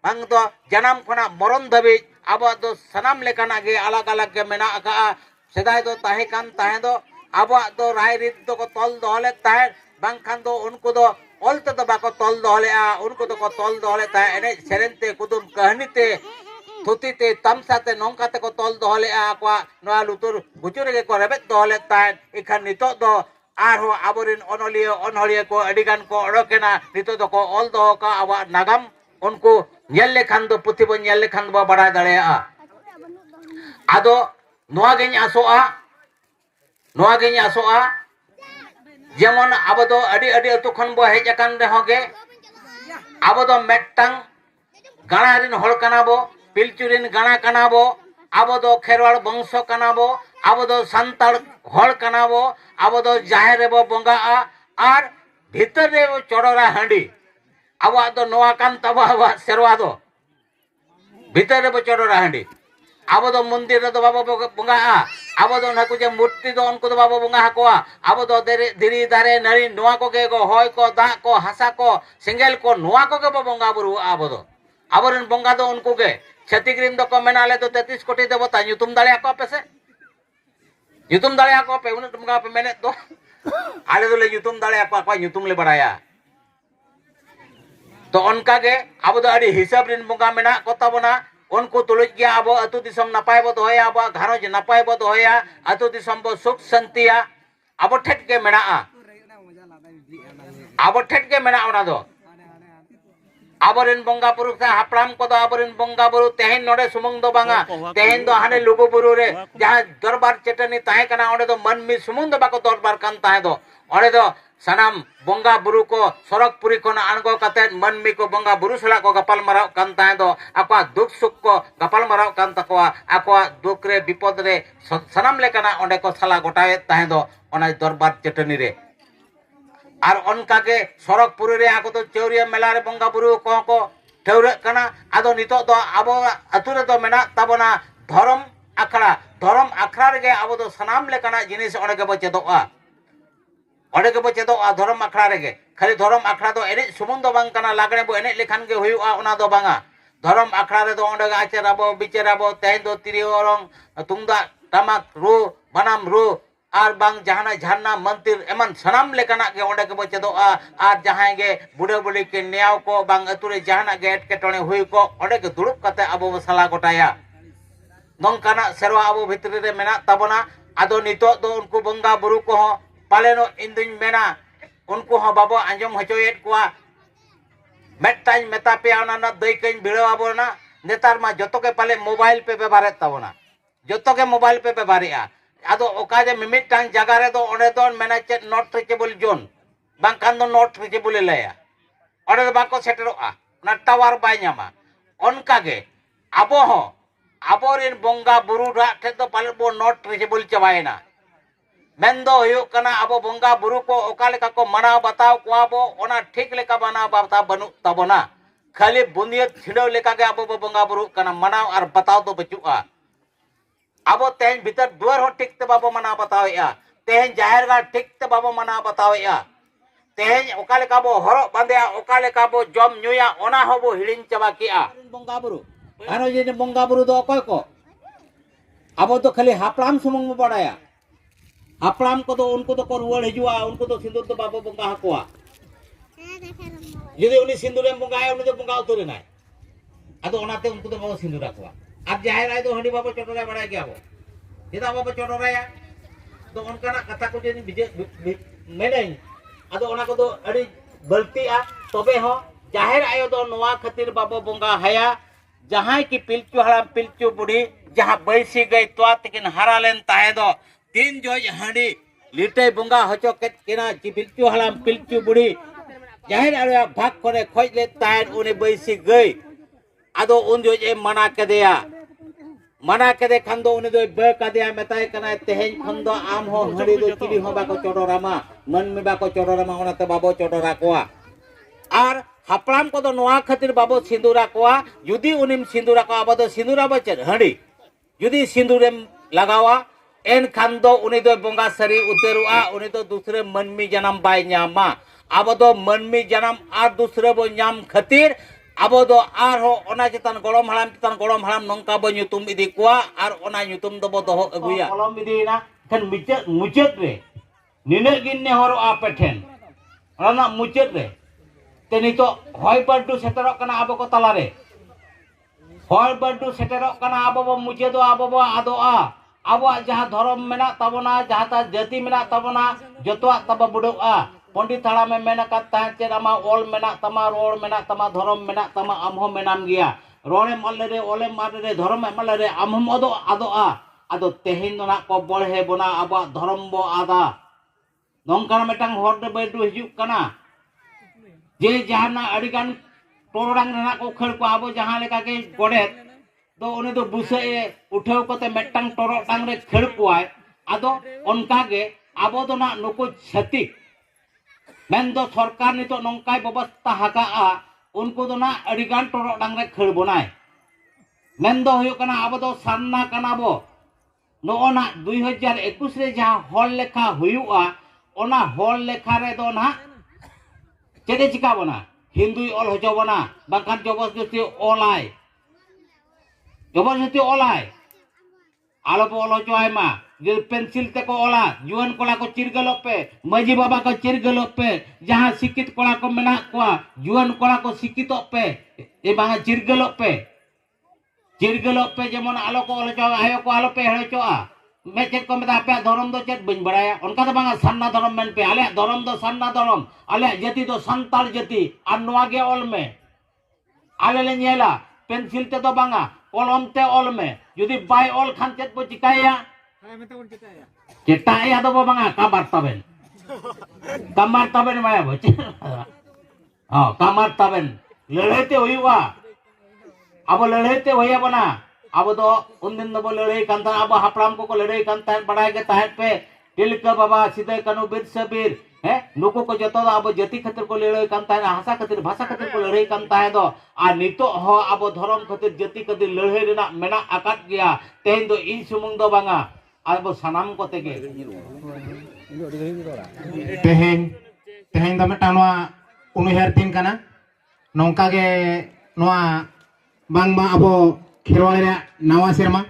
Speaker 1: ᱵᱟᱝ ᱫᱚ ᱡᱟᱱᱟᱢ ᱠᱷᱚᱱᱟᱜ ᱢᱚᱨᱚᱱ ᱫᱷᱟᱹᱵᱤᱡ ᱟᱵᱚᱣᱟᱜ ᱫᱚ ᱥᱟᱱᱟᱢ ᱞᱮᱠᱟᱱᱟᱜ ᱜᱮ ᱟᱞᱟᱜᱽ ᱟᱞᱟᱜᱽ ᱜᱮ ᱢᱮᱱᱟᱜ ᱟᱠᱟᱫᱼᱟ ᱥᱮᱫᱟᱭ ᱫᱚ ᱛᱟᱦᱮᱸ ᱠᱟᱱ ᱛᱟᱦᱮᱸ ᱫᱚ ᱟᱵᱚᱣᱟᱜ ᱫᱚ ᱨᱟᱭ ᱨᱤᱛ ᱫᱚᱠᱚ ᱛᱚᱞ ᱫᱚᱦᱚ ᱞᱮᱫ ᱛᱟᱦᱮᱸᱫ ᱵᱟᱝᱠᱷᱟᱱ ᱫᱚ ᱩᱱᱠᱩ ᱫᱚ ᱚᱞ ᱛᱮᱫᱚ ᱵᱟᱠᱚ ᱛᱚᱞ ᱫᱚᱦᱚ ᱞᱮᱫᱼᱟ ᱩᱱᱠᱩ ᱫᱚᱠᱚ ᱛᱚᱞ ᱫᱚᱦᱚ ᱞᱮᱫ ᱛᱟᱦᱮᱸᱫ ᱮᱱᱮᱡ ᱥᱮᱨᱮᱧ ᱛᱮ ᱠᱩᱫᱩᱢ ᱠᱟᱹᱦᱱᱤ ᱛᱮ ᱛᱷᱩᱛᱤ ᱛᱮ ᱛᱟᱢᱥᱟ ᱛᱮ ᱱᱚᱝᱠᱟ ᱛᱮᱠᱚ ᱛᱚᱞ ᱫᱚᱦᱚ ᱞᱮᱫᱼᱟ ᱟᱠᱚᱣᱟᱜ ᱱᱚᱣᱟ ᱞᱩᱛᱩᱨ ᱜᱩᱪᱩ ᱨᱮᱜᱮ ᱠᱚ ᱨᱮᱵᱮᱫ ᱫᱚᱦᱚ ᱞᱮᱫ ᱛᱟᱦᱮᱸᱫ ᱮᱱᱠᱷᱟᱱ ᱱᱤᱛᱚᱜ ᱫᱚ ᱟᱨᱦᱚᱸ ᱟᱵᱚᱨᱮᱱ ᱚᱱᱚᱞᱤᱭᱟᱹ ᱚᱱᱚᱲᱦᱤᱭᱟᱹ ᱠᱚ ᱟᱹᱰᱤ ᱜᱟᱱ ᱠᱚ ᱚᱰᱚᱠᱮᱱᱟ ᱱᱤᱛᱚᱜ ᱫᱚᱠᱚ ᱚᱞ ᱫᱚᱦᱚ ᱠᱟᱜᱼᱟ ᱟᱵᱚᱣᱟᱜ ᱱᱟᱜᱟᱢ ᱩᱱᱠᱩ ᱧᱮᱞ ᱞᱮᱠᱷᱟᱱ ᱫᱚ ᱯᱩᱛᱷᱤ ᱵᱚᱱ ᱧᱮᱞ ᱞᱮᱠᱷᱟᱱ ᱵᱚ ᱵᱟᱲᱟᱭ ᱫᱟᱲᱮᱭᱟᱜᱼᱟ ᱟᱫᱚ ᱱᱚᱣᱟ ᱜᱤᱧ ᱟᱥᱚᱜᱼᱟ ᱱᱚᱣᱟ ᱜᱤᱧ ᱟᱥᱚᱜᱼᱟ ᱡᱮᱢᱚᱱ ᱟᱵᱚ ᱫᱚ ᱟᱹᱰᱤ ᱟᱹᱰᱤ ᱟᱹᱛᱩ ᱠᱷᱚᱱ ᱵᱚ ᱦᱮᱡ ᱟᱠᱟᱱ ᱨᱮᱦᱚᱸ ᱜᱮ ᱟᱵᱚ ᱫᱚ ᱢᱤᱫᱴᱟᱝ ᱜᱟᱬᱟ ᱨᱤᱱ ᱦᱚᱲ ᱠᱟᱱᱟ ᱵᱚ ᱯᱤᱞᱪᱩ ᱨᱤᱱ ᱜᱟᱬᱟ ᱠᱟᱱᱟ ᱵᱚ ᱟᱵᱚ ᱫᱚ ᱠᱷᱮᱨᱣᱟᱲ ᱵᱚᱝᱥᱚ ᱠᱟᱱᱟ ᱵᱚ ᱟᱵᱚ ᱫᱚ ᱥᱟᱱᱛᱟᱲ ᱦᱚᱲ ᱠᱟᱱᱟ ᱵᱚ ᱟᱵᱚ ᱫᱚ ᱡᱟᱦᱮᱨ ᱨᱮᱵᱚ ᱵᱚᱸᱜᱟᱜᱼᱟ ᱟᱨ ᱵᱷᱤᱛᱟᱹᱨ ᱨᱮᱵᱚ ᱪᱚᱰᱚᱨᱟ ᱦᱟᱺᱰᱤ ᱟᱵᱚᱣᱟᱜ ᱫᱚ ᱱᱚᱣᱟ ᱠᱟᱱ ᱛᱟᱵᱚ ᱟᱵᱚᱣᱟᱜ ᱥᱮᱨᱣᱟ ᱫᱚ ᱵᱷᱤᱛᱟᱹᱨ ᱨᱮᱵᱚ ᱪᱚᱰᱚᱨᱟ ᱦᱟᱺᱰᱤ ᱟᱵᱚ ᱫᱚ ᱢᱚᱱᱫᱤᱨ ᱨᱮᱫᱚ ᱵᱟᱵᱚ ᱵᱚᱸᱜᱟᱜᱼᱟ ᱟᱵᱚ ᱫᱚ ᱱᱩᱠᱩ ᱡᱮ ᱢᱩᱨᱛᱤ ᱫᱚ ᱩᱱᱠᱩ ᱫᱚ ᱵᱟᱵᱚ ᱵᱚᱸᱜᱟ ᱟᱠᱚᱣᱟ ᱟᱵᱚ ᱫᱚ ᱫᱷᱤᱨᱤ ᱫᱟᱨᱮ ᱱᱟᱹᱲᱤ ᱱᱚᱣᱟ ᱠᱚᱜᱮ ᱠᱚ ᱦᱚᱭ ᱠᱚ ᱫᱟᱜ ᱠᱚ ᱦᱟᱥᱟ ᱠᱚ ᱥᱮᱸᱜᱮᱞ ᱠᱚ ᱱᱚᱣᱟ ᱠᱚᱜᱮ ᱵᱚ ᱵᱚᱸᱜᱟ ᱵᱩᱨᱩᱣᱟᱜᱼᱟ ᱟᱵᱚ ᱫᱚ ᱟᱵᱚᱨᱮᱱ ᱵᱚᱸᱜᱟ ᱫᱚ ᱩᱱᱠᱩ ᱜᱮ ᱪᱷᱟᱹᱛᱤᱠ ᱨᱮᱱ ᱫᱚᱠᱚ ᱢᱮᱱᱟ ᱟᱞᱮ ᱫᱚ ᱛᱮᱛᱤᱥ ᱠᱳᱴᱤ ᱫᱮᱵᱚᱛᱟ ᱧᱩᱛᱩᱢ ᱫᱟᱲᱮᱭᱟᱠᱚᱣᱟ ᱯᱮ ᱥᱮ ᱧᱩᱛᱩᱢ ᱫᱟᱲᱮᱭᱟᱠᱚᱣᱟ ᱯᱮ ᱩᱱᱟᱹᱜ ᱵᱚᱸᱜᱟ ᱯᱮ ᱢᱮᱱᱮᱫ ᱫᱚ ᱟᱞᱮ ᱫᱚᱞᱮ ᱧᱩᱛᱩᱢ ᱫᱟᱲᱮᱭᱟᱠᱚᱣᱟ ᱟᱠᱚᱣᱟᱜ ᱧᱩᱛᱩᱢ ᱞᱮ ᱵᱟᱲᱟᱭᱟ ᱛᱚ ᱚᱱᱠᱟ ᱜᱮ ᱟᱵᱚ ᱫᱚ ᱟᱹᱰᱤ ᱦᱤᱥᱟᱹᱵ ᱨᱮᱱ ᱵᱚᱸᱜᱟ ᱢᱮᱱᱟᱜ ᱠᱚ ᱛᱟᱵᱚᱱᱟ ᱩᱱᱠᱩ ᱛᱩᱞᱩᱡ ᱜᱮ ᱟᱵᱚ ᱟᱹᱛᱩ ᱫᱤᱥᱚᱢ ᱱᱟᱯᱟᱭ ᱵᱚ ᱫᱚᱦᱚᱭᱟ ᱟᱵᱚᱣᱟᱜ ᱜᱷᱟᱨᱚᱸᱡᱽ ᱱᱟᱯᱟᱭ ᱵᱚ ᱫᱚᱦᱚᱭᱟ ᱟᱹᱛᱩ ᱫᱤᱥᱚᱢ ᱵᱚ ᱥᱩᱠ ᱥᱟᱱᱛᱤᱭᱟ ᱟᱵᱚ ᱴᱷᱮᱱ ᱜᱮ ᱢᱮᱱᱟᱜᱼᱟ ᱟᱵᱚ ᱴᱷᱮᱱ ᱜᱮ ᱢᱮᱱᱟᱜᱼᱟ ᱚᱱᱟ ᱫᱚ ᱟᱵᱚᱨᱮᱱ ᱵᱚᱸᱜᱟ ᱵᱩᱨᱩ ᱥᱮ ᱦᱟᱯᱲᱟᱢ ᱠᱚᱫᱚ ᱟᱵᱚᱨᱮᱱ ᱵᱚᱸᱜᱟ ᱵᱩᱨᱩ ᱛᱮᱦᱮᱧ ᱱᱚᱰᱮ ᱥᱩᱢᱩᱝ ᱫᱚ ᱵᱟᱝᱟ ᱛᱮᱦᱮᱧ ᱫᱚ ᱦᱟᱱᱮ ᱞᱩᱜᱩ ᱵᱩᱨᱩ ᱨᱮ ᱡᱟᱦᱟᱸ ᱫᱚᱨᱵᱟᱨ ᱪᱟᱹᱴᱟᱹᱱᱤ ᱛᱟᱦᱮᱸ ᱠᱟᱱᱟ ᱚᱸᱰᱮ ᱫᱚ ᱢᱟᱹᱱᱢᱤ ᱥᱩᱢᱩᱝ ᱫᱚ ᱵᱟᱠᱚ ᱫᱚᱨᱵᱟᱨ ᱠᱟᱱ ᱛᱟᱦᱮᱸ ᱫᱚ ᱚᱸᱰᱮ ᱫᱚ ᱥᱟᱱᱟᱢ ᱵᱚᱸᱜᱟ ᱵᱩᱨᱩ ᱠᱚ ᱥᱚᱨᱚᱜᱽ ᱯᱩᱨᱤ ᱠᱷᱚᱱ ᱟᱬᱜᱚ ᱠᱟᱛᱮ ᱢᱟᱹᱱᱢᱤ ᱠᱚ ᱵᱚᱸᱜᱟ ᱵᱩᱨᱩ ᱥᱟᱞᱟᱜ ᱠᱚ ᱜᱟᱯᱟᱞ ᱢᱟᱨᱟᱣ ᱠᱟᱱ ᱛᱟᱦᱮᱸ ᱫᱚ ᱟᱠᱚᱣᱟᱜ ᱫᱩᱠ ᱥᱩᱠ ᱠᱚ ᱜᱟᱯᱟᱞ ᱢᱟᱨᱟᱣ ᱠᱟᱱ ᱛᱟᱠᱚᱣᱟ ᱟᱠᱚᱣᱟᱜ ᱫᱩᱠ ᱨᱮ ᱵᱤᱯᱚᱫ ᱨᱮ ᱥᱟᱱᱟᱢ ᱞᱮᱠᱟᱱᱟᱜ ᱚᱸᱰᱮ ᱠᱚ ᱥᱟᱞᱟ ᱜᱚᱴᱟᱭᱮᱫ ᱛᱟᱦᱮᱸ ᱫᱚ ᱚᱱᱟ ᱫᱚᱨᱵᱟᱨ ᱪᱟᱹᱴᱟᱹᱱᱤ ᱨᱮ ᱟᱨ ᱚᱱᱠᱟ ᱜᱮ ᱥᱚᱨᱚᱜᱽ ᱯᱩᱨᱤ ᱨᱮ ᱟᱠᱚ ᱫᱚ ᱪᱟᱹᱣᱨᱤᱭᱟᱹ ᱢᱮᱞᱟ ᱨᱮ ᱵᱚᱸᱜᱟ ᱵᱩᱨᱩ ᱠᱚᱦᱚᱸ ᱠᱚ ᱴᱷᱟᱹᱣᱨᱟᱹᱜ ᱠᱟᱱᱟ ᱟᱫᱚ ᱱᱤᱛᱚᱜ ᱫᱚ ᱟᱵᱚᱣᱟᱜ ᱟᱹᱛᱩ ᱨᱮᱫᱚ ᱢᱮᱱᱟᱜ ᱛᱟᱵᱚᱱᱟ ᱫᱷᱚᱨᱚᱢ ᱟᱠᱷᱲᱟ ᱫᱷᱚᱨᱚᱢ ᱟᱠᱷᱲᱟ ᱨᱮᱜᱮ ᱟᱵᱚ ᱫᱚ ᱥᱟᱱᱟᱢ ᱞᱮᱠᱟᱱᱟᱜ ᱡᱤᱱᱤᱥ ᱚᱸᱰᱮ ᱜᱮᱵᱚ ᱪᱮᱫᱚᱜᱼᱟ ᱚᱸᱰᱮ ᱜᱮᱵᱚ ᱪᱮᱫᱚᱜᱼᱟ ᱫᱷᱚᱨᱚᱢ ᱟᱠᱷᱲᱟ ᱨᱮᱜᱮ ᱠᱷᱟᱹᱞᱤ ᱫᱷᱚᱨᱚᱢ ᱟᱠᱷᱲᱟ ᱫᱚ ᱮᱱᱮᱡ ᱥᱩᱢᱩᱝ ᱫᱚ ᱵᱟᱝ ᱠᱟᱱᱟ ᱞᱟᱜᱽᱬᱮ ᱵᱚ ᱮᱱᱮᱡ ᱞᱮᱠᱷᱟᱱ ᱜᱮ ᱦᱩᱭᱩᱜᱼᱟ ᱚᱱᱟ ᱫᱚ ᱵᱟᱝᱟ ᱫᱷᱚᱨᱚᱢ ᱟᱠᱷᱲᱟ ᱨᱮᱫᱚ ᱚᱸᱰᱮ ᱜᱮ ᱟᱪᱟᱨ ᱟᱵᱚ ᱵᱤᱪᱟᱹᱨ ᱟᱵᱚ ᱛᱮᱦᱮᱧ ᱫᱚ ᱛᱤᱨᱭᱳ ᱚᱨᱚᱝ ᱛᱩᱢᱫᱟᱜ ᱴᱟᱢᱟᱠ ᱨᱩ ᱵᱟᱱᱟᱢ ᱨᱩ ᱟᱨ ᱵᱟᱝ ᱡᱟᱦᱟᱱᱟᱜ ᱡᱷᱟᱨᱱᱟ ᱢᱚᱱᱛᱤᱨ ᱮᱢᱟᱱ ᱥᱟᱱᱟᱢ ᱞᱮᱠᱟᱱᱟᱜ ᱜᱮ ᱚᱸᱰᱮ ᱜᱮᱵᱚ ᱪᱮᱫᱚᱜᱼᱟ ᱟᱨ ᱡᱟᱦᱟᱸᱭ ᱜᱮ ᱵᱩᱰᱷᱟᱹ ᱵᱩᱰᱷᱤ ᱠᱤᱱ ᱱᱮᱭᱟᱣ ᱠᱚ ᱵᱟᱝ ᱟᱹᱛᱩ ᱨᱮ ᱡᱟᱦᱟᱱᱟᱜ ᱜᱮ ᱮᱴᱠᱮᱴᱚᱬᱮ ᱦᱩᱭ ᱠᱚᱜ ᱚᱸᱰᱮ ᱜᱮ ᱫᱩᱲᱩᱵ ᱠᱟᱛᱮ ᱟᱵᱚ ᱵᱚ ᱥᱟᱞᱟ ᱜᱚᱴᱟᱭᱟ ᱱᱚᱝᱠᱟᱱᱟᱜ ᱥᱮᱨᱣᱟ ᱟᱵᱚ ᱵᱷᱤᱛᱨᱤ ᱨᱮ ᱢᱮᱱᱟᱜ ᱛᱟᱵᱚᱱᱟ ᱟᱫᱚ ᱱᱤᱛᱚᱜ ᱫᱚ ᱩᱱᱠᱩ ᱵᱚᱸᱜᱟ ᱵᱩᱨᱩ ᱠᱚᱦᱚᱸ ᱯᱟᱞᱮᱱᱚᱜ ᱤᱧ ᱫᱩᱧ ᱢᱮᱱᱟ ᱩᱱᱠᱩ ᱦᱚᱸ ᱵᱟᱵᱚ ᱟᱸᱡᱚᱢ ᱦᱚᱪᱚᱭᱮᱫ ᱠᱚᱣᱟ ᱢᱤᱫᱴᱟᱝ ᱢᱮᱛᱟ ᱯᱮᱭᱟ ᱚᱱᱟ ᱨᱮᱱᱟᱜ ᱫᱟᱹᱭᱠᱟᱹᱧ ᱵᱷᱤᱲᱟᱹᱣ ᱟᱵᱚᱱᱟ ᱱᱮᱛᱟᱨ ᱢᱟ ᱡᱚᱛᱚ ᱜᱮ ᱯᱟᱞᱮ ᱢᱳᱵᱟᱭᱤᱞ ᱯᱮ ᱵᱮᱵᱷᱟᱨᱮᱫ ᱛᱟᱵᱚᱱᱟ ᱡᱚᱛᱚ ᱜᱮ ᱢᱳᱵᱟᱭᱤᱞ ᱯᱮ ᱵᱮᱵᱷᱟᱨᱮᱜᱼᱟ ᱟᱫᱚ ᱚᱠᱟ ᱡᱮ ᱢᱤᱢᱤᱫᱴᱟᱝ ᱡᱟᱭᱜᱟ ᱨᱮᱫᱚ ᱚᱸᱰᱮ ᱫᱚ ᱢᱮᱱᱟ ᱪᱮᱫ ᱱᱚᱴ ᱨᱤᱪᱮᱵᱚᱞ ᱡᱳᱱ ᱵᱟᱝᱠᱷᱟᱱ ᱫᱚ ᱱᱚᱴ ᱨᱤᱪᱮᱵᱚᱞ ᱮ ᱞᱟᱹᱭᱟ ᱚᱸᱰᱮ ᱫᱚ ᱵᱟᱠᱚ ᱥᱮᱴᱮᱨᱚᱜᱼᱟ ᱚᱱᱟ ᱴᱟᱣᱟᱨ ᱵᱟᱭ ᱧᱟᱢᱟ ᱚᱱᱠᱟᱜᱮ ᱟᱵᱚ ᱦᱚᱸ ᱟᱵᱚᱨᱮᱱ ᱵᱚᱸᱜᱟ ᱵᱩᱨᱩ ᱨᱟᱜ ᱴᱷᱮᱱ ᱫᱚ ᱯᱟᱞᱮᱫ ᱵᱚ ᱱᱚᱴ ᱨᱤᱪᱮᱵᱚᱞ ᱪᱟᱵᱟᱭᱮᱱᱟ ᱢᱮᱱ ᱫᱚ ᱦᱩᱭᱩᱜ ᱠᱟᱱᱟ ᱟᱵᱚ ᱵᱚᱸᱜᱟ ᱵᱩᱨᱩ ᱠᱚ ᱚᱠᱟ ᱞᱮᱠᱟ ᱠᱚ ᱢᱟᱱᱟᱣ ᱵᱟᱛᱟᱣ ᱠᱚᱣᱟ ᱵᱚ ᱚᱱᱟ ᱴᱷᱤᱠ ᱞᱮᱠᱟ ᱢᱟᱱᱟᱣ ᱵᱟᱛᱟᱣ ᱵᱟᱹᱱᱩᱜ ᱛᱟᱵᱚᱱᱟ ᱠᱷᱟᱹᱞᱤ ᱵᱩᱱᱤᱭᱟᱹᱫ ᱪᱷᱤᱰᱟᱹᱣ ᱞᱮᱠᱟᱜᱮ ᱟᱵᱚ ᱵᱚ ᱵᱚᱸᱜᱟ ᱵᱩᱨᱩᱜ ᱠᱟᱱᱟ ᱢᱟᱱᱟᱣ ᱟᱨ ᱵᱟᱛᱟᱣ ᱫᱚ ᱵᱟᱹᱪᱩᱜᱼᱟ ᱟᱵᱚ ᱛᱮᱦᱮᱧ ᱵᱷᱤᱛᱟᱹᱨ ᱫᱩᱣᱟᱹᱨ ᱦᱚᱸ ᱴᱷᱤᱠ ᱛᱮ ᱵᱟᱵᱚ ᱢᱟᱱᱟᱣ ᱵᱟᱛᱟᱣᱮᱫᱼᱟ ᱛᱮᱦᱮᱧ ᱡᱟᱦᱮᱨ ᱜᱟᱲ ᱴᱷᱤᱠ ᱛᱮ ᱵᱟᱵᱚ ᱢᱟᱱᱟᱣ ᱵᱟᱛᱟᱣᱮᱫᱼᱟ ᱛᱮᱦᱮᱧ ᱚᱠᱟ ᱞᱮᱠᱟ ᱵᱚ ᱦᱚᱨᱚᱜ ᱵᱟᱸᱫᱮᱭᱟ ᱚᱠᱟ ᱞᱮᱠᱟ ᱵᱚ ᱡᱚᱢ ᱧᱩᱭᱟ ᱚᱱᱟ ᱦᱚᱸ ᱵᱚ ᱦᱤᱲᱤᱧ ᱪᱟᱵᱟ ᱠᱮᱜᱼᱟ ᱵᱚᱸᱜᱟ ᱵᱩᱨᱩ ᱟᱨᱚ ᱡᱮ ᱵᱚᱸᱜᱟ ᱵᱩᱨᱩ ᱫᱚ ᱚᱠᱚᱭ ᱠᱚ ᱟᱵᱚ ᱫᱚ ᱠᱷᱟᱹᱞᱤ ᱦᱟᱯᱲᱟᱢ ᱥᱩᱢᱩᱝ ᱵᱚ ᱵᱟᱲᱟᱭᱟ ᱦᱟᱯᱲᱟᱢ ᱠᱚᱫᱚ ᱩᱱᱠᱩ ᱫᱚᱠᱚ ᱨᱩᱣᱟᱹᱲ ᱦᱤᱡᱩᱜᱼᱟ ᱩᱱᱠᱩ ᱫᱚ ᱥᱤᱸᱫᱩᱨ ᱫᱚ ᱵᱟᱵᱚ ᱵᱚᱸᱜᱟ ᱟᱠᱚᱣᱟ ᱡᱩᱫᱤ ᱩᱱᱤ ᱥᱤᱸᱫᱩᱨᱮᱢ ᱵᱚᱸᱜᱟᱭᱟ ᱩᱱᱤ ᱫᱚ ᱵᱚᱸᱜᱟ ᱩᱛᱟᱹᱨᱮᱱᱟᱭ ᱟᱫᱚ ᱚᱱᱟᱛᱮ ᱩᱱᱠᱩ ᱫᱚ ᱵᱟᱵᱚ ᱥᱤᱸᱫᱩᱨ ᱟᱠᱚᱣᱟ ᱟᱨ ᱡᱟᱦᱮᱨ ᱟᱭᱳ ᱫᱚ ᱦᱟᱺᱰᱤ ᱵᱟᱵᱚ ᱪᱚᱰᱚᱨᱟᱭ ᱵᱟᱲᱟᱭ ᱜᱮᱭᱟ ᱵᱚ ᱪᱮᱫᱟᱜ ᱵᱟᱵᱚ ᱪᱚᱰᱚᱨᱟᱭᱟ ᱫᱚ ᱚᱱᱠᱟᱱᱟᱜ ᱠᱟᱛᱷᱟ ᱠᱚ ᱡᱩᱫᱤ ᱵᱤᱡᱮ ᱢᱮᱱᱟᱹᱧ ᱟᱫᱚ ᱚᱱᱟ ᱠᱚᱫᱚ ᱟᱹᱰᱤ ᱵᱟᱹᱲᱛᱤᱜᱼᱟ ᱛᱚᱵᱮ ᱦᱚᱸ ᱡᱟᱦᱮᱨ ᱟᱭᱳ ᱫᱚ ᱱᱚᱣᱟ ᱠᱷᱟᱹᱛᱤᱨ ᱵᱟᱵᱚ ᱵᱚᱸᱜᱟ ᱟᱭᱟ ᱡᱟᱦᱟᱸᱭ ᱠᱤ ᱯᱤᱞᱪᱩ ᱦᱟᱲᱟᱢ ᱯᱤᱞᱪᱩ ᱵᱩᱰᱷᱤ ᱡᱟᱦᱟᱸ ᱵᱟᱹᱭᱥᱤ ᱜᱟᱹᱭ ᱛᱚᱣᱟ ᱛᱮᱠᱤᱱ ᱦᱟᱨᱟ ᱞᱮᱱ ᱛᱟᱦᱮᱸ ᱫᱚ ᱛᱤᱱ ᱡᱚᱦᱚᱡ ᱦᱟᱺᱰᱤ ᱞᱤᱴᱟᱹᱭ ᱵᱚᱸᱜᱟ ᱦᱚᱪᱚ ᱠᱮᱫ ᱠᱤᱱᱟ ᱯᱤᱞᱪᱩ ᱦᱟᱲᱟᱢ ᱯᱤᱞᱪᱩ ᱵᱩᱰᱷᱤ ᱡᱟᱦᱮᱨ ᱟᱲᱮᱭᱟᱜ ᱵᱷᱟᱜᱽ ᱠᱷᱚᱱᱮ ᱠᱷᱚᱡ ᱞᱮᱫ ᱛᱟᱦᱮᱸᱫ ᱩᱱᱤ ᱵᱟᱹᱭᱥᱤ ᱜᱟᱹᱭ ᱟᱫᱚ ᱩᱱ ᱡᱚᱦᱚᱡ ᱮ ᱢᱟᱱᱟ ᱠᱮᱫᱮᱭᱟ ᱢᱟᱱᱟ ᱠᱮᱫᱮ ᱠᱷᱟᱱ ᱫᱚ ᱩᱱᱤ ᱫᱚᱭ ᱵᱟᱹᱠ ᱟᱫᱮᱭᱟ ᱢᱮᱛᱟᱭ ᱠᱟᱱᱟᱭ ᱛᱮᱦᱮᱧ ᱠᱷᱚᱱ ᱫᱚ ᱟᱢ ᱦᱚᱸ ᱦᱟᱺᱰᱤ ᱫᱚ ᱪᱤᱞᱤ ᱦᱚᱸ ᱵᱟᱠᱚ ᱪᱚᱰᱚᱨᱟᱢᱟ ᱢᱟᱹᱱᱢᱤ ᱵᱟᱠᱚ ᱪᱚᱰᱚᱨᱟᱢᱟ ᱚᱱᱟᱛᱮ ᱵᱟᱵᱚ ᱪᱚᱰᱚᱨᱟ ᱠᱚᱣᱟ ᱟᱨ ᱦᱟᱯᱲᱟᱢ ᱠᱚᱫᱚ ᱱᱚᱣᱟ ᱠᱷᱟᱹᱛᱤᱨ ᱵᱟᱵᱚ ᱥᱤᱸᱫᱩᱨᱟ ᱠᱚᱣᱟ ᱡᱩᱫᱤ ᱩᱱᱤᱢ ᱥᱤᱸᱫᱩᱨᱟ ᱠᱚᱣᱟ ᱟᱵᱚ ᱫᱚ ᱥᱤᱸᱫᱩᱨᱟᱵᱚ ᱪᱮᱫ ᱦᱟᱺᱰᱤ ᱡᱩᱫᱤ ᱥᱤᱸᱫᱩᱨᱮᱢ ᱞᱟᱜᱟᱣᱟ ᱮᱱᱠᱷᱟᱱ ᱫᱚ ᱩᱱᱤ ᱫᱚ ᱵᱚᱸᱜᱟ ᱥᱟᱹᱨᱤ ᱩᱛᱟᱹᱨᱚᱜᱼᱟ ᱩᱱᱤ ᱫᱚ ᱫᱩᱥᱨᱟᱹ ᱢᱟᱹᱱᱢᱤ ᱡᱟᱱᱟᱢ ᱵᱟᱭ ᱧᱟᱢᱟ ᱟᱵᱚ ᱫᱚ ᱢᱟᱹᱱᱢᱤ ᱡᱟᱱᱟᱢ ᱟᱨ ᱫᱩᱥᱨᱟᱹ ᱵᱚ ᱧᱟᱢ ᱠᱷᱟᱹᱛᱤᱨ ᱟᱵᱚ ᱫᱚ ᱟᱨᱦᱚᱸ ᱚᱱᱟ ᱪᱮᱛᱟᱱ ᱜᱚᱲᱚᱢ ᱦᱟᱲᱟᱢ ᱪᱮᱛᱟᱱ ᱜᱚᱲᱚᱢ ᱦᱟᱲᱟᱢ ᱱᱚᱝᱠᱟ ᱵᱚ ᱧᱩᱛᱩᱢ ᱤᱫᱤ ᱠᱚᱣᱟ ᱟᱨ ᱚᱱᱟ ᱧᱩᱛᱩᱢ ᱫᱚᱵᱚ ᱫᱚᱦᱚ ᱟᱹᱜᱩᱭᱟ ᱯᱚᱞᱚᱢ ᱤᱫᱤᱭᱮᱱᱟ ᱠᱷᱟᱱ ᱢᱩᱪᱟᱹᱫ ᱢᱩᱪᱟᱹᱫ ᱨᱮ ᱱᱤᱱᱟᱹᱜ ᱜᱤᱧ ᱱᱮᱦᱚᱨᱚᱜᱼᱟ ᱟᱯᱮ ᱴᱷᱮᱱ ᱚᱱᱟ ᱨᱮᱱᱟᱜ ᱢᱩᱪᱟᱹᱫ ᱨᱮ ᱛᱮ ᱱᱤᱛᱚᱜ ᱦᱚᱭ ᱵᱟᱹᱨᱰᱩ ᱥᱮᱴᱮᱨᱚᱜ ᱠᱟᱱᱟ ᱟᱵᱚ ᱠᱚ ᱛᱟᱞᱟᱨᱮ ᱦᱚᱭ ᱵᱟᱹᱨᱰᱩ ᱥᱮᱴᱮᱨᱚᱜ ᱠᱟᱱᱟ ᱟᱵᱚ ᱵᱚ ᱢᱩᱪᱟᱹᱫᱚᱜᱼᱟ ᱟᱵᱚ ᱵᱚ ᱟᱫᱚᱜᱼᱟ ᱟᱵᱚᱣᱟᱜ ᱡᱟᱦᱟᱸ ᱫᱷᱚᱨᱚᱢ ᱢᱮᱱᱟᱜ ᱛᱟᱵᱚᱱᱟ ᱡᱟᱦᱟᱸ ᱛᱟᱦᱟᱸ ᱡᱟᱹᱛᱤ ᱢᱮᱱᱟᱜ ᱛᱟᱵᱚᱱᱟ ᱡᱚᱛᱚᱣᱟᱜ ᱛᱟᱵᱚ ᱵᱩᱰᱟᱹᱜᱼᱟ ᱯᱚᱸᱰᱤᱛ ᱦᱟᱲᱟᱢᱮ ᱢᱮᱱ ᱟᱠᱟᱫ ᱛᱟᱦᱮᱸᱫ ᱪᱮᱫ ᱟᱢᱟᱜ ᱚᱞ ᱢᱮᱱᱟᱜ ᱛᱟᱢᱟ ᱨᱚᱲ ᱢᱮᱱᱟᱜ ᱛᱟᱢᱟ ᱫᱷᱚᱨᱚᱢ ᱢᱮᱱᱟᱜ ᱛᱟᱢᱟ ᱟᱢ ᱦᱚᱸ ᱢᱮᱱᱟᱢ ᱜᱮᱭᱟ ᱨᱚᱲᱮᱢ ᱟᱫ ᱞᱮᱨᱮ ᱚᱞᱮᱢ ᱟᱫ ᱞᱮᱨᱮ ᱫᱷᱚᱨᱚᱢᱮᱢ ᱟᱫ ᱞᱮᱨᱮ ᱟᱢ ᱦᱚᱸᱢ ᱟᱫᱚᱜᱼᱟ ᱟᱫᱚ ᱛᱮᱦᱮᱧ ᱫᱚ ᱱᱟᱜ ᱠᱚ ᱵᱚᱲᱦᱮ ᱵᱚᱱᱟ ᱟᱵᱚᱣᱟᱜ ᱫᱷᱚᱨᱚᱢ ᱵᱚ ᱟᱫᱟ ᱱᱚᱝᱠᱟᱱ ᱢᱤᱫᱴᱟᱝ ᱦᱚᱨ ᱫᱚ ᱵᱟᱹᱭᱰᱩ ᱦᱤᱡᱩᱜ ᱠᱟᱱᱟ ᱡᱮ ᱡᱟᱦᱟᱱᱟᱜ ᱟᱹᱰᱤᱜᱟᱱ ᱴᱚᱨᱚᱰᱟᱝ ᱨᱮᱱᱟᱜ ᱠᱚ ᱠᱷᱟᱹᱲ ᱠᱚᱣᱟ ᱟᱵᱚ ᱡᱟᱦᱟᱸ ᱞᱮᱠᱟ ᱜᱮ ᱜᱚᱰᱮᱛ ᱫᱚ ᱩᱱᱤ ᱫᱚ ᱵᱩᱥᱟᱹᱜ ᱮ ᱩᱴᱷᱟᱹᱣ ᱠᱟᱛᱮ ᱢᱤᱫᱴᱟᱝ ᱴᱚᱨᱚᱰᱟᱝ ᱨᱮ ᱠᱷᱟᱹᱲ ᱠᱚᱣᱟᱭ ᱟᱫᱚ ᱚᱱᱠᱟ ᱜᱮ ᱟᱵᱚ ᱫᱚ ᱱᱟᱜ ᱱᱩᱠᱩ ᱪᱷᱟᱹᱛᱤᱠ ᱢᱮᱱᱫᱚ ᱥᱚᱨᱠᱟᱨ ᱱᱤᱛᱚᱜ ᱱᱚᱝᱠᱟᱭ ᱵᱮᱵᱚᱥᱛᱟ ᱟᱠᱟᱜᱼᱟ ᱩᱱᱠᱩ ᱫᱚ ᱱᱟᱜ ᱟᱹᱰᱤᱜᱟᱱ ᱴᱚᱨᱚᱰᱟᱝ ᱨᱮ ᱠᱷᱟᱹᱲ ᱵᱚᱱᱟᱭ ᱢᱮᱱ ᱫᱚ ᱦᱩᱭᱩᱜ ᱠᱟᱱᱟ ᱟᱵᱚ ᱫᱚ ᱥᱟᱨᱱᱟ ᱠᱟᱱᱟ ᱵᱚ ᱱᱚᱜᱼᱚ ᱱᱟᱜ ᱫᱩᱭ ᱦᱟᱡᱟᱨ ᱮᱠᱩᱥ ᱨᱮ ᱡᱟᱦᱟᱸ ᱦᱚᱲ ᱞᱮᱠᱷᱟ ᱦᱩᱭᱩᱜᱼᱟ ᱚᱱᱟ ᱦᱚᱲ ᱞᱮᱠᱷᱟ ᱨᱮᱫᱚ ᱱᱟᱦᱟᱜ ᱪᱮᱫ ᱮ ᱪᱤᱠᱟ ᱵᱚᱱᱟ ᱦᱤᱱᱫᱩᱭ ᱚᱞ ᱦᱚᱪᱚ ᱵᱚᱱᱟ ᱵᱟᱝᱠᱷᱟᱱ ᱡᱚᱵᱚᱨᱡᱚᱥᱛᱤ ᱚᱞᱟᱭ ᱡᱚᱵᱚᱨᱡᱚᱥᱛᱤ ᱚᱞᱟᱭ ᱟᱞᱚ ᱵᱚ ᱚᱞ ᱦᱚᱪᱚᱣᱟᱭ ᱢᱟ ᱡᱩᱫᱤ ᱯᱮᱱᱥᱤᱞ ᱛᱮᱠᱚ ᱚᱞᱟ ᱡᱩᱣᱟᱹᱱ ᱠᱚᱲᱟ ᱠᱚ ᱪᱤᱨᱜᱟᱹᱞᱚᱜ ᱯᱮ ᱢᱟᱹᱡᱷᱤ ᱵᱟᱵᱟ ᱠᱚ ᱪᱤᱨᱜᱟᱹᱞᱚᱜ ᱯᱮ ᱡᱟᱦᱟᱸ ᱥᱤᱠᱠᱷᱤᱛ ᱠᱚᱲᱟ ᱠᱚ ᱢᱮᱱᱟᱜ ᱠᱚᱣᱟ ᱡᱩᱣᱟᱹᱱ ᱠᱚᱲᱟ ᱠᱚ ᱥᱤᱠᱠᱷᱤᱛᱚᱜ ᱯᱮ ᱮ ᱵᱟᱝᱟ ᱪᱤᱨᱜᱟᱹᱞᱚᱜ ᱯᱮ ᱪᱤᱨᱜᱟᱹᱞᱚᱜ ᱯᱮ ᱡᱮᱢᱚᱱ ᱟᱞᱚ ᱠᱚ ᱚᱞ ᱦᱚᱪᱚᱣᱟ ᱟᱭᱳ ᱠᱚ ᱟᱞᱚ ᱯᱮ ᱦᱮᱲ ᱦᱚᱪᱚᱜᱼᱟ ᱢᱮ ᱪᱮᱫ ᱠᱚ ᱢᱮᱛᱟᱜᱼᱟ ᱟᱯᱮᱭᱟᱜ ᱫᱷᱚᱨᱚᱢ ᱫᱚ ᱪᱮᱫ ᱵᱟᱹᱧ ᱵᱟᱲᱟᱭᱟ ᱚᱱᱠᱟ ᱫᱚ ᱵᱟᱝᱟ ᱥᱟᱨᱱᱟ ᱫᱷᱚᱨᱚᱢ ᱢᱮᱱ ᱯᱮ ᱟᱞᱮᱭᱟᱜ ᱫᱷᱚᱨᱚᱢ ᱫᱚ ᱥᱟᱨᱱᱟ ᱫᱷᱚᱨᱚᱢ ᱟᱞᱮᱭᱟᱜ ᱡᱟᱹᱛᱤ ᱫᱚ ᱥᱟᱱᱛᱟᱲ ᱡᱟᱹᱛᱤ ᱟᱨ ᱱᱚᱣᱟ ᱜᱮ ᱚᱞ ᱢᱮ ᱟᱞᱮ ᱞᱮ ᱧᱮᱞᱟ ᱯᱮᱱᱥᱤᱞ ᱛᱮᱫᱚ ᱵᱟᱝᱟ ᱠᱚᱞᱚᱢ ᱛᱮ ᱚᱞ ᱢᱮ ᱡᱩᱫᱤ ᱵᱟᱭ ᱚᱞ ᱠᱷᱟᱱ ᱪᱮᱫ ᱵᱚ ᱪᱤᱠᱟᱭᱟ ᱪᱮᱴᱟᱭᱟ ᱫᱚ ᱵᱚ ᱵᱟᱝᱟ ᱠᱟᱢᱟᱨ ᱛᱟᱵᱮᱱ ᱠᱟᱢᱟᱨ ᱛᱟᱵᱮᱱ ᱮᱢᱟᱭᱟ ᱵᱚ ᱦᱚᱸ ᱠᱟᱢᱟᱨ ᱛᱟᱵᱮᱱ ᱞᱟᱹᱲᱦᱟᱹᱭ ᱛᱮ ᱦᱩᱭᱩᱜᱼᱟ ᱟᱵᱚ ᱞᱟᱹᱲᱦᱟᱹᱭ ᱛᱮ ᱦᱩᱭ ᱟᱵᱚᱱᱟ ᱟᱵᱚ ᱫᱚ ᱩᱱᱫᱤᱱ ᱫᱚᱵᱚ ᱞᱟᱹᱲᱦᱟᱹᱭ ᱠᱟᱱ ᱛᱟᱦᱮᱸᱫ ᱟᱵᱚ ᱦᱟᱯᱲᱟᱢ ᱠᱚᱠᱚ ᱞᱟᱹᱲᱦᱟᱹᱭ ᱠᱟᱱ ᱛᱟᱦᱮᱸᱫ ᱵᱟᱲᱟᱭ ᱜᱮ ᱛᱟᱦᱮᱸᱫ ᱯᱮ ᱛᱤᱞᱠᱟᱹ ᱵᱟᱵᱟ ᱥᱤᱫᱟᱹ ᱠᱟᱹᱱᱩ ᱵᱤᱨᱥᱟᱹ ᱵᱤᱨ ᱦᱮᱸ ᱱᱩᱠᱩ ᱠᱚ ᱡᱚᱛᱚ ᱫᱚ ᱟᱵᱚ ᱡᱟᱹᱛᱤ ᱠᱷᱟᱹᱛᱤᱨ ᱠᱚ ᱞᱟᱹᱲᱦᱟᱹᱭ ᱠᱟᱱ ᱛᱟᱦᱮᱱᱟ ᱦᱟᱥᱟ ᱠᱷᱟᱹᱛᱤᱨ ᱵᱷᱟᱥᱟ ᱠᱷᱟᱹᱛᱤᱨ ᱠᱚ ᱞᱟᱹᱲᱦᱟᱹᱭ ᱠᱟᱱ ᱛᱟᱦᱮᱸ ᱫᱚ ᱟᱨ ᱱᱤᱛᱚᱜ ᱦᱚᱸ ᱟᱵᱚ ᱫᱷᱚᱨᱚᱢ ᱠᱷᱟᱹᱛᱤᱨ ᱡᱟᱹᱛᱤ ᱠᱷᱟᱹᱛᱤᱨ ᱞᱟᱹᱲᱦᱟᱹᱭ ᱨᱮᱱᱟᱜ ᱢᱮᱱᱟᱜ ᱟᱠᱟᱫ ᱜᱮᱭᱟ ᱛᱮᱦᱮᱧ ᱫᱚ ᱤᱧ ᱥᱩᱢᱩᱝ ᱫᱚ ᱵᱟᱝᱟ ᱟᱵᱚ ᱥᱟᱱᱟᱢ ᱠᱚᱛᱮ ᱜᱮ ᱛᱮᱦᱮᱧ
Speaker 2: ᱛᱮᱦᱮᱧ ᱫᱚ ᱢᱤᱫᱴᱟᱝ ᱱᱚᱣᱟ ᱩᱱᱩᱭᱦᱟᱹᱨ ᱫᱤᱱ ᱠᱟᱱᱟ ᱱᱚᱝᱠᱟ ᱜᱮ ᱱᱚᱣᱟ ᱵᱟᱝᱢᱟ ᱟᱵᱚ ᱠᱷᱮᱨᱣᱟᱲ ᱨᱮᱭᱟᱜ ᱱᱟᱣᱟ ᱥᱮᱨᱢᱟ